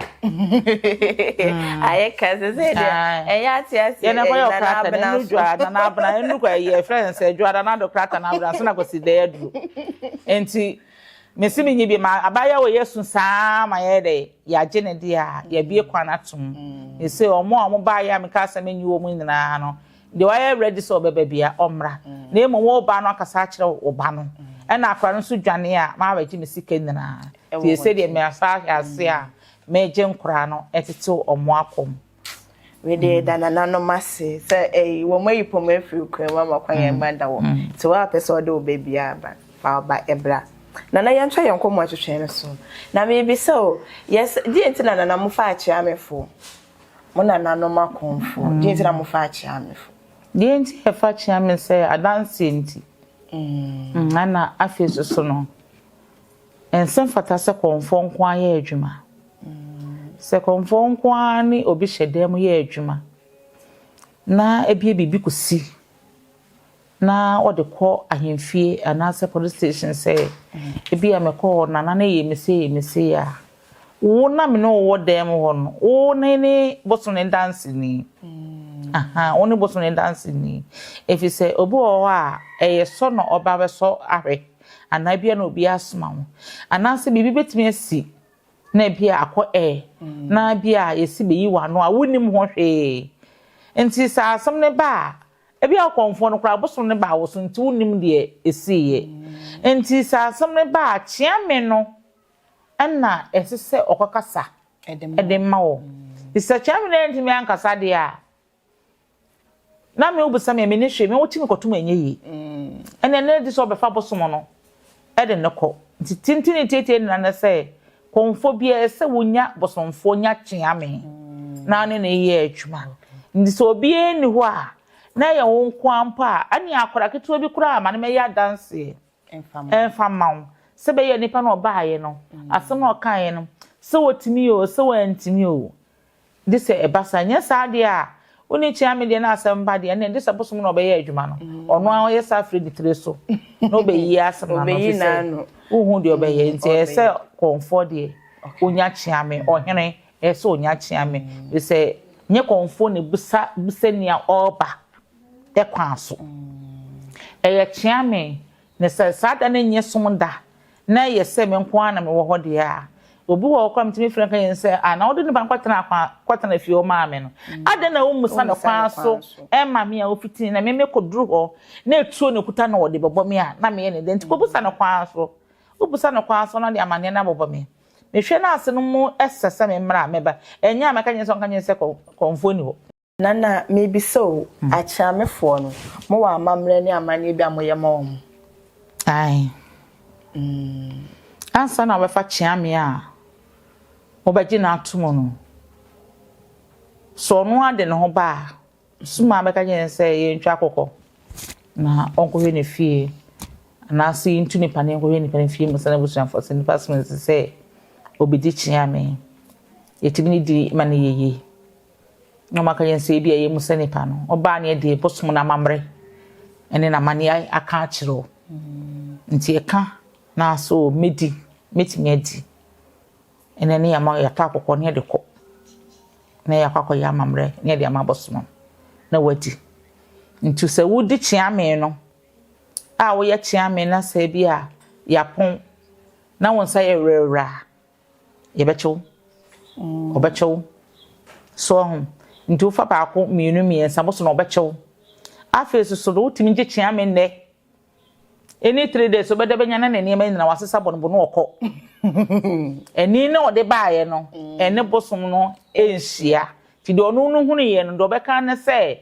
Ayɛ ka sɛ sɛ deɛ ɛyɛ ate ase yɛn kɔyɛ wɔ krataa no ɛnu dwa nana abena ɛnu kɔ ɛyɛ ɛfrɛ no sɛ dwa nana do krataa no abena so na kɔsi dɛ aduro nti. Mese menye bi ma abaayewa wɔ yɛasu saa ma yɛyɛ dɛ yɛagye ne deɛ a yɛabue kwan ato mu. Mese wɔn a wɔbaeɛ a mekaa sɛ menye wɔn nyinaa no, deɛ wayɛ ready sɛ ɔbɛba bia ɔmmra. Na mmom wo ba no akasa akyerɛ wo ba no ɛna akwadaa no nso dwane a mabɛgye me sika nyinaa. Tie sɛdeɛ mesan ahwɛ ase a meregye nkwadaa no tetew wɔn akɔ mu. Mede da nananom ase sɛ ɛyi wɔn ayi pɔm afiri okura mu ama kwan yɛn mma da wɔ te wɔn apɛ sɛ ɔde wo ba bi aba fa ɔba ɛbra nana yɛn twa yɛn kɔmɔ atwitwɛn no so na mebi sɛ o yɛs deɛ nti na nana mo fa akyea me fo mo nananom akɔnfo deɛ nti na mo fa akyea me fo deɛ nti yɛ fa kyea me sɛ adanseɛ nti ɛna afei soso no ɛnsɛ fata sɛ kɔnfɔ nko ayɛ adwuma. Sɛ kɔmfoɔ nko ara ne obi hyɛ dan mu yɛ adwuma na ebia biribi kɔsi na wɔde kɔ ahemfie anaasɛ police station sɛ ebia mekɔ hɔ na nana yɛ me sei yɛ me sei a wo na me ne wowɔ dan mu hɔ no wo ne ne boso ne danseni mm. aha wo ne boso ne danseni ɛfiri sɛ obi wɔ hɔ a ɛyɛ sɔ na ɔba bɛsɔ ahwɛ anaa bia na obi asoma ho anaasɛ biribi bɛtumi asi na ebi a akɔ ɛ, na ebi a yɛsi bɛyi w'ano a wonnim ho hwee. Nti sɛ asɛm no ba a, ebi a wokɔmfoɔ no koraa bosom no baa wo so nti wonnim deɛ ɛsiiɛ. Nti sɛ asɛm no ba a kyea me no na ɛsɛ sɛ ɔkɔkasa de ma wo. Nti sɛ kyea me no antumi ankasa deɛ a, na me wobisa me me ne hwee me wo ti me kɔtom ɛnyɛ yie ɛnɛ ne de sɛ ɔbɛfa bosom no ɛde ne kɔ nti tintini tietie nna ne sɛ kɔnfɔ bi ɛsɛ wonya bosomfoɔ nya kyea me na ne ne yɛ adwuma nti sɛ obiara ni hɔ a na ɛyɛ wo nko ampo a ɛne akora ketewa bi koraa ma ne mɛyɛ adanseɛ ɛmfa ma wo sɛ bɛyɛ nipa no ɔbaayɛ no asɛm no ɔkaeɛ no sɛ wɔtumi o sɛ wɔantumi o Gye sɛ ɛba saa, anyɛ saa deɛ a, wo ne kyea me deɛ na asɛm ba deɛ, ɛnneɛ gye sɛ bosom na ɔbɛyɛ adwuma no, ɔno ara ɔyɛ saa firi ne tiri so na ɔbɛyi asɛm ano, ɛfiri sɛ wonhu deɛ ɔbɛyɛ, nti ɛyɛ sɛ kɔmfoɔ deɛ ɔnya kyea me, ɔhene ɛyɛ sɛ ɔnya kyea me, ɛfiri sɛ nyɛ kɔmfoɔ na ɛbisa bisa nea ɔreba kwan so, ɛyɛ kyea me. Na sɛ saa da no nyɛ sum da, na ɛyɛ sɛ me nko ara na mewɔ hɔ deɛ a, obi wɔ hɔ koraa a metumi frɛ no ka yɛn sɛ, Ah, na wode nipa no kɔtenaa kwan a, kɔtena fie hɔ maa me no. Adɛn na wommisa no kwan so mma me a ofitini na me mekɔduru hɔ, na etuo na ekuta na wɔde bɛbɔ me a, na meyɛ no dɛn? Enti kɔbisa no kwan so. Wobisa no kwan so na ɔde amanneɛ no abobɔ me. Mehwɛ no ase no mu ɛsɛ sɛ memmra a, mɛba. Ɛnyɛ a mɛka kyerɛ no sɛ ɔnka nkyerɛ me sɛ kɔmfoɔ nni hɔ. Nana, mebisa o, Akyeamefoɔ no, mo wɔ amammerɛ ne amanneɛ bi a moyɛ ma wɔn? Ae. Mm. Ansa na wɔbɛfa Kyeame a mobɛgye no ato mu no, sɛ ɔno ara de ne ho ba a, soma a bɛka kyerɛ no sɛ yɛntwa akɔkɔ na ɔnkɔhwɛ ne fie anaasɛ yɛntu nipa no yɛnkɔhwɛ nipa no fie mu sɛ n'abusuafoɔ sɛ nipa soma sɛ ɔbɛdi Kyeame. Yɛtumi ne di ma no yɛyie. na ɔma ka yɛn sɛ ebi a ɛyɛ mu sɛ nipa no, ɔbaa ne ɛdeɛ bosom no amammerɛ ne n'amanneɛ aka akyerɛ o. Nti ɛka na so mɛdi, mɛtumi adi. Ɛnɛ ne yɛama yɛatɔ akɔkɔ ne yɛde kɔ. Na yɛakɔ akɔyɛ amammerɛ ne yɛde ama bosom na wadi. Nti sɛ wodi kyeame no, a woyɛ kyeame na sɛ bi a yɛapɔn na wo nsa yɛ werɛwerɛ a, Yɛbɛkyɛ wo. Wɔbɛkyɛ wo. So woahu? Enti wofa baako, mmienu, mmiɛnsa, boso na wɔbɛkyɛ wo. Afei nso so no, wotumi gye kyea me nnɛ. Any three days, wobɛda bɛnya na ne nneɛma nyinaa wasesa bɔnobɔ na ɔkɔ. Ɛni na ɔde baeɛ no, ɛne bosom no nhyia. Nti deɛ ɔno no hunuiɛ no, deɛ ɔbɛka ne sɛ,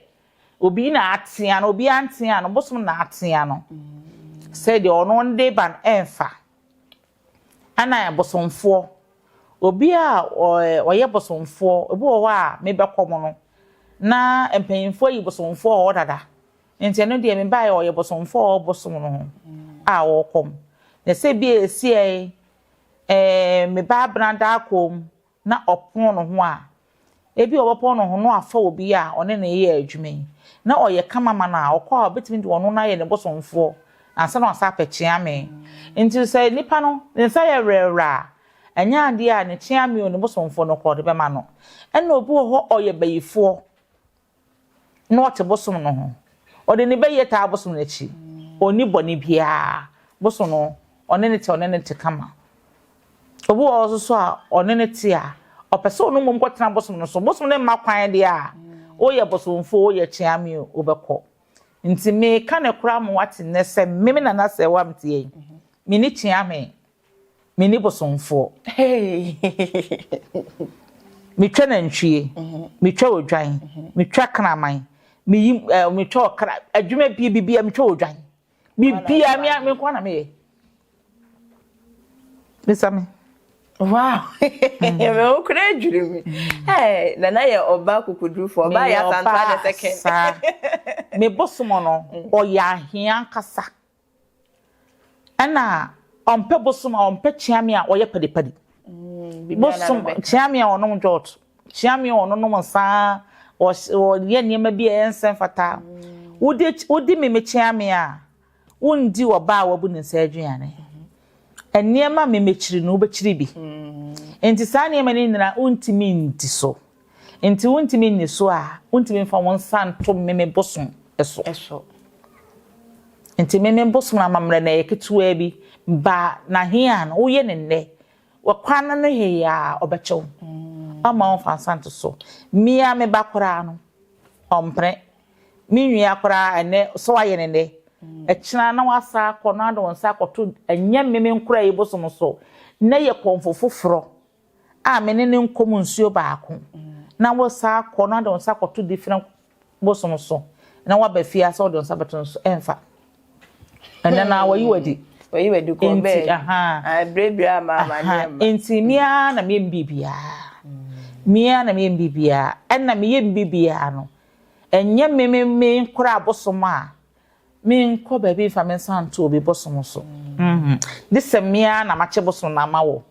obi na atea no, obi antea no, bosom na atea no. Sɛ deɛ ɔno de ba no ɛmfa. Ana ɛbosomfoɔ, obi a ɔyɛ bosomfoɔ, obi wɔ hɔ a mebɛkɔ mu no, na mpanyimfoɔ ayi bosomfoɔ wɔ hɔ dada. Nti ɛno deɛ mebaeɛ ɔyɛ bosomfoɔ a ɔbosom no ho a ɔrekɔ mu. Na sɛ bi a ɛsiiɛ, ɛɛ mebaa Benada akɔ mu, na ɔpɔn ne ho a, ebia ɔbɛpɔn ne ho na wafa obi a ɔne no reyɛ adwuma yi na ɔyɛ kama ma no a, ɔkɔ a obetumi de ɔno no ayɛ ne bosomfoɔ ansa na wasan apɛ kyeamee. Enti sɛ nipa no, ne nsa yɛ werɛwerɛ a, ɛnyɛ adeɛ a ne kyeamee o, ne bosomfoɔ no koraa ɔde bɛma no. Ɛnna obi wɔ hɔ ɔyɛ bayifoɔ. na ɔte bosom no ho, ɔde ne bɛ yɛ taa bosom no akyi, ɔnni bɔne biara, bosom no ɔne no te, ɔne no te kama. Obi wɔ hɔ nso so a ɔne no te a, ɔpɛ sɛ ɔno mmom kɔtena bosom no so, bosom no mma kwan deɛ a, woyɛ bosomfoɔ, woyɛ kyeame o, wobɛkɔ. Nti mereka no koraa ma woate nnɛ sɛ me, me Nana Serwaa a mete ha yi, menni kyeame. Me ni bosomfoɔ Me twa nantwie Me twa odwan Me twa kraman Me yi eh, me twa ɔkra Adwuma bie bibia me twa odwan Bibia me me nkoa na me yɛ Bisa me Wow, ɛmɛ o kura adwiri mi. Ɛɛ, nana yɛ ɔba kukudurufoɔ, ɔba yɛ asanto adɛ sɛkɛn. Me bosom no, ɔyɛ ahia nkasa. Ɛna ɔmpɛ bosom a ɔmpɛ kyeame a ɔyɛ padipadi. Bosom kyeame a ɔnom dwɔt, kyeame a ɔnonom nsa, ɔyɛ nneɛma bi a ɛyɛ nsɛ mfata. Wodi wodi meme kyeame a wondi ɔbaa a wabu ne nsa aduane. Nneɛma meme kyiri no wobɛkyiri bi. Nti saa nneɛma no nyinaa wontumi ndi so. Enti wontumi nni so a, wontumi mfa wo nsa nto meme bosom so. so. Enti meme bosom no amammerɛ no ɛyɛ ketewaa bi, ba na he a no woyɛ ne nnɛ, wakwan no no he a ɔbɛkyɛ wo. Mm. Ɔmma wo mfa nsa nto so. Mia me ba koraa no, ɔmpene. Me nwia koraa ɛnɛ, sɛ wayɛ ne nnɛ, ɛkyena na wasa akɔ na ade wo nsa akɔto ɛnyɛ meme nkora yi bosom so, na yɛ kɔmfo foforɔ. a me ne no nkɔm nsuo baako na wo saa akɔ na wode wo nsa akɔto different bosom so na waba fie asɛ wode wo nsa bɛto no so ɛmfa ɛnɛ na wayi wadi wayi wadi kɔ bɛɛ aha ɛbrɛbrɛ ama ama nneɛma nti mmea na mmea mbibiaa mmea na mmea mbibiaa ɛna mmea mbibiaa no ɛnyɛ mmemme mmea nkora abosom a Me nkɔ baabi nfa me nsa nto obi bosom so mm gye sɛ me ara na makyɛ bosom no ama wɔ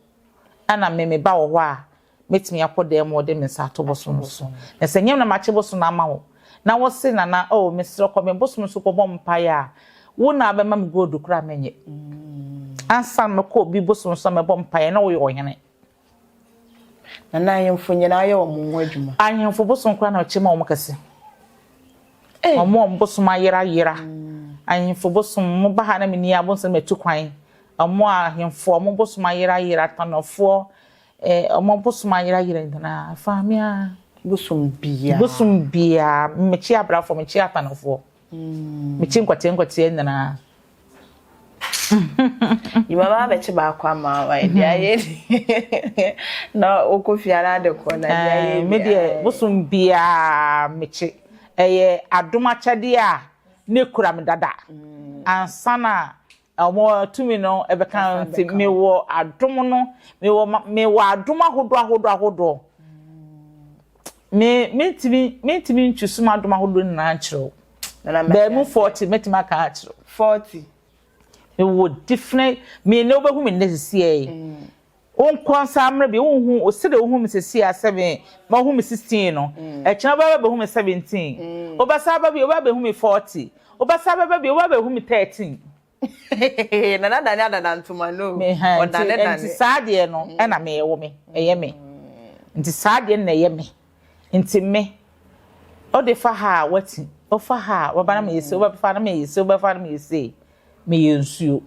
ɛna me me ba wɔ hɔ a mɛtumi akɔ dan mu ɔde me nsa ato bosom no so na sɛ nyɛ me na makyɛ bosom no ama wɔ na wɔ se nana oh mesrɛ kɔ me bosom no so kɔ bɔ mpaeɛ a wo na abɛma me gold kora mɛnyɛ mm ansa na mɛkɔ obi bosom no so na mɛbɔ mpaeɛ na woyɛ ɔhene. Na na ahemfo nyinaa yɛ wɔn ho adwuma. Ahemfo bosom koraa na ɔkyɛ ma wɔn kɛse. Wɔn a wɔn bosom ayera yera. Ahemfo bosom, mo ba ha na menni abonsam atu kwan. Wɔn a ahemfo wɔn bosom ayera yera, tanɔfoɔ, ɛɛ wɔn bosom ayera yera nyinaa. Fa me a. Bosom biara. Bosom biara. Mekyi abrafoɔ, mekyi atanɔfoɔ. mekyi nkɔteɛ nkɔteɛ nyinaa yìí bá bẹ̀kyẹ̀ baako ama wa ẹ̀dí ayé ni na okò fìyà náà de kọ na ẹ̀dí ayé ni. mi deɛ bosom biara mekye ɛyɛ adom akyɛdeɛ a ne kura me dada ansa na wɔn tumi no bɛka no nti mewɔ adom no mewɔ mewɔ adom ahodoɔ ahodoɔ ahodoɔ me mentumi mentumi ntwusu mu adom ahodoɔ nyinaa nkyerɛ o bɛn mu forty mɛtumi aka akyerɛ forty mewɔ different me ne wobɛhu me nnɛ sisi yɛ mm. Wo nkoa nsa ammrɛ bio, wonhu, wo sɛdeɛ wohu me seesei a, seven, ma wohu me sixteen no, akyire no wobɛba abɛhu me seventeen, wobɛsan aba bio, wobɛabɛhu me forty, wobɛsan bɛba bio, wobɛabɛhu me thirteen. Hehehe, Nana Dane adada ntoma, no, ɔdane dane. Nti saa adeɛ no na me, ɛwɔ me, ɛyɛ me, nti saa adeɛ no na ɛyɛ me. Nti me, ode fa ha a wati, wofa ha a waba na meyɛ sei, wobɛfa na meyɛ sei, wobɛfa na meyɛ sei, meyɛ nsuo.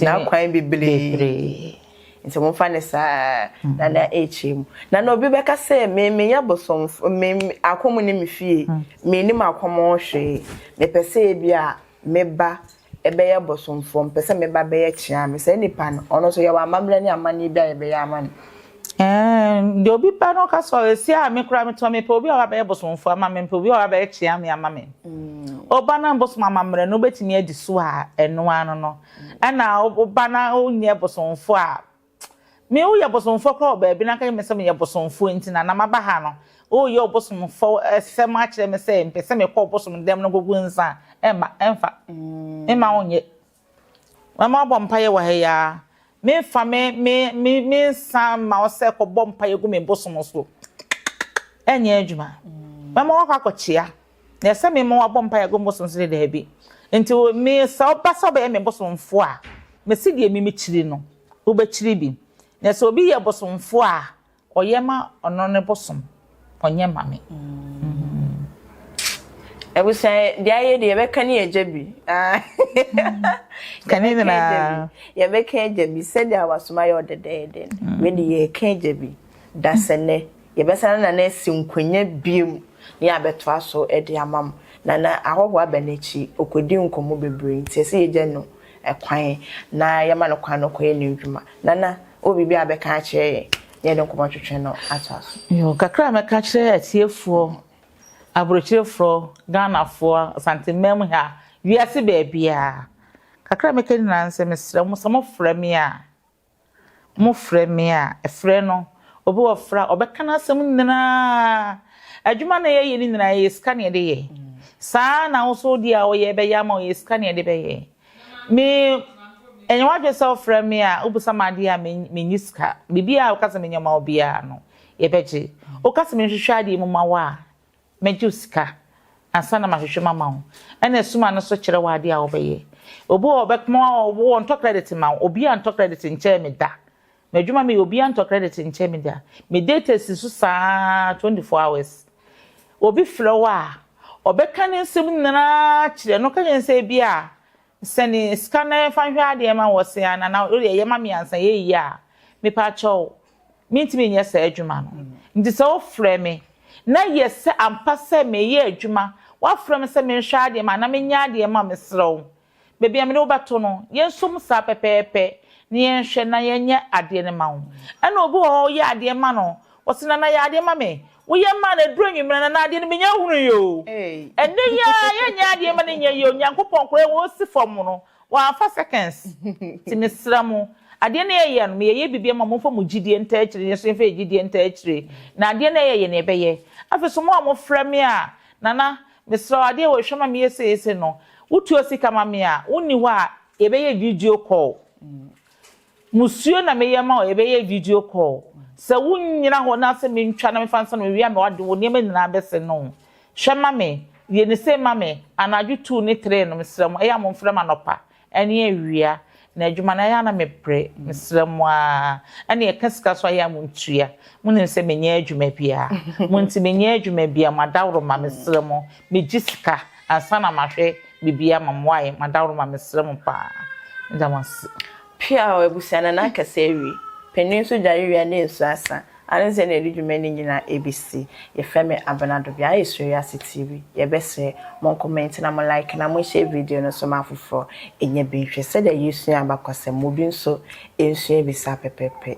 Nana kwan bebree. Nti momfa ne saa Nana ɛrekyɛ mu. Nana obi bɛka sɛ me meyɛ bosomfo, me akɔm ne me fie, mennim akɔm ho hwee, mepɛ sɛ ebi a meba ɛbɛyɛ bosomfoɔ, mepɛ sɛ meba bɛyɛ kyea me. Saa nipa no, ɔno nso yɛwɔ amammerɛ ne amanneɛ bi a yɛbɛyɛ ama no. Ɛɛ, deɛ obi pɛ no ɔka sɛ, ɔ, ɛsi a me koraa metɔ, mepɛ obi a ɔba bɛyɛ bosomfoɔ ama me, mepɛ obi a ɔba bɛyɛ kyea me ama me. Woba na bosom amammerɛ no, wobɛtumi adi so a, ɛno ara no no. Ɛna woba na wonyɛ bosomfoɔ a, Me wo yɛ bosomfoɔ koraa wɔ baabi na anka nyɛ me sɛ me yɛ bosomfoɔ nti na na maba ha no wo reyɛ ɔbosomfoɔ sɛm akyerɛ me sɛ mpɛ sɛ me kɔ ɔbosom dɛm no kɔgu nsa a ɛmma ɛmfa me mma wo nyɛ mɛma wo abɔ mpaeɛ wɔ ha yi ara me nfa me me me me nsa mma wo sɛ kɔbɔ mpaeɛ gu me bosom so ɛnyɛ adwuma mɛma wo akɔ akɔkyea. Na ɛsɛ me ma wɔabɔ mpaeɛ agu me bosom so de? Daabi. Nti mesa wo ba sɛ wobɛyɛ me bosomfoɔ a, mese deɛ me mekyiri no, wobɛkyiri bi. Na sɛ obi yɛ bosomfoɔ a, ɔyɛ ma ɔno ne bosom, ɔnyɛ ma me. Abusua, deɛ ayɛ deɛ yɛbɛka ne agya bi. Ka ne nyinaa. Yɛbɛka agya bi sɛdeɛ awasom ayɛ ɔdɛdɛɛdɛ no. Wei deɛ yɛka agya bi. Dasɛnnɛ, Yɛbɛsan Nana asi nkonnwa bio ne abɛtoa so de ama mo. Nana, ahɔhoɔ aba n'akyi, ɔkɔdi nkɔmmɔ bebree nti ɛsɛ yɛgya no kwan na yɛma no kwan na ɔkɔyɛ n'adwuma. Nana, wowɔ biribi a wobɛka akyerɛ yɛn na yɛde nkɔmmɔtwetwe no atoa so? Yoo, kakra a mɛka akyerɛ atiefoɔ, aburokyerefoɔ, Ghanafoɔ, Asanteman mu ha, wiase baabiara. Kakra a mɛka nyinaa ne sɛ, mesrɛ mo, sɛ mofrɛ me a, Mofrɛ me a, frɛ no. Obi wɔ frɛ a, ɔbɛka n'asɛm nyina ara. Adwuma na yɛyɛ no nyina ara, ɛyɛ sika na yɛde yɛ. Saa ara na wo nso wo deɛ a woyɛ, ɛbɛyɛ ama wo, ɛyɛ sika na yɛde bɛyɛ. Me, ɛnyɛ w'adwene sɛ wofrɛ me a, wobisa me adeɛ a, me, menni sika. Biribiara a woka sɛ menyɛ mma wo biara no, yɛbɛgye. Woka sɛ menhwehwɛ adeɛ mu mma wo a, Mɛgye wo sika ansa na mahwehwɛ mu ama wo. Ɛna sum ano so kyerɛ wo adeɛ a wobɛyɛ. Obi wɔ ɔbɛkoma ɔwɔ ɔntɔ credit mma wo. Obiara ntɔ credit nkyɛɛ me da. M'adwuma meyɛ obiara ntɔ credit nkyɛɛ me da. Me data si so saa ara 24 hours. Obi frɛ wo a, ɔbɛka ne nsɛm nyinaa akyerɛ no. Ka kyerɛ no sɛ ebia Sɛne sika na yɛmfa nhwɛ adeɛ ma wɔ se ana na wodeɛ yɛma me ansa yɛ yie a mepakyɛw mentumi nyɛ saa adwuma no nti sɛ wofrɛ me na yɛ sɛ ampa sɛ meyɛ adwuma woafrɛ me sɛ menhwɛ adeɛ ma anaa menyɛ adeɛ ma mesrɛ wo baabi a mene wo bɛto no yɛnsom saa pɛpɛɛpɛ na yɛnhwɛ na yɛnyɛ adeɛ no ma wo ɛna obi wɔ hɔ woyɛ adeɛ ma no Ɔse Nana yɛ adeɛ ma me. Woyɛ maa no aduru anwummerɛ Nana adeɛ no menya hunu yi oo. Ɛnɛ yi ara yɛnyɛ adeɛ ma no nyɛ yie oo Nyankopɔn koraa wɔ ɔsi fam no wamfa seconds Nti mesrɛ mo adeɛ no yɛyɛ no meyɛyɛ biribi ama mo momfa mo gyidie ntaa akyire na yɛn nso yɛmfa yɛn gyidie ntaa akyire na adeɛ no yɛyɛ no yɛbɛyɛ Afei nso mo a mofrɛ me a Nana mesrɛ wo adeɛ wei hwɛ ma meyɛ sei sei no wotua sika ma me a wonni hɔ a yɛbɛyɛ video call Musuo na meyɛ ma wo yɛbɛyɛ video call sɛ wo nyina hɔ na sɛ mentwa na mefa nsa na mewia me w'aden wo nneɛma nyinaa bɛsɛ no hwɛ ma me yɛ no sei ma me anadwo two ne three no mesrɛ mo ɛyɛ mo mfrɛ me anɔpa ɛne awia na adwuma no ɛyɛ na mebrɛ mesrɛ mo aa ɛne yɛka sika so ayɛ a mo ntua mo nim sɛ menyɛ adwuma biaa mo nti menyɛ adwuma biaa mo adaworoma mesrɛ mo Megye sika ansa na mahwɛ biribi ama mo wai madawroma mesrɛ mo paa meda mo ase. Pia o abusua na na kɛse awie pɛnui nso dware wia na nsu asa ane sɛ na ɛde dwuma ni nyina ɛbɛsi yɛfrɛ me Abena Dobia ayɛ suro wiase TV yɛbɛsrɛ mo nkomɛnti na mo like na mo nhyɛ video no nso ma afoforɔ ɛnya bi nhwɛ sɛdeɛ yɛsua abakɔsɛm ma obi nso ɛnsua bi saa pɛpɛpɛ.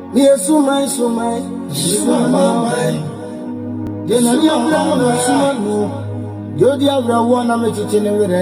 Meyɛ suman suman mesuma m'aman Deɛ n'ani abere no na mesuma no Deɛ ɔdi awerɛhoɔ na mekyekye ne werɛ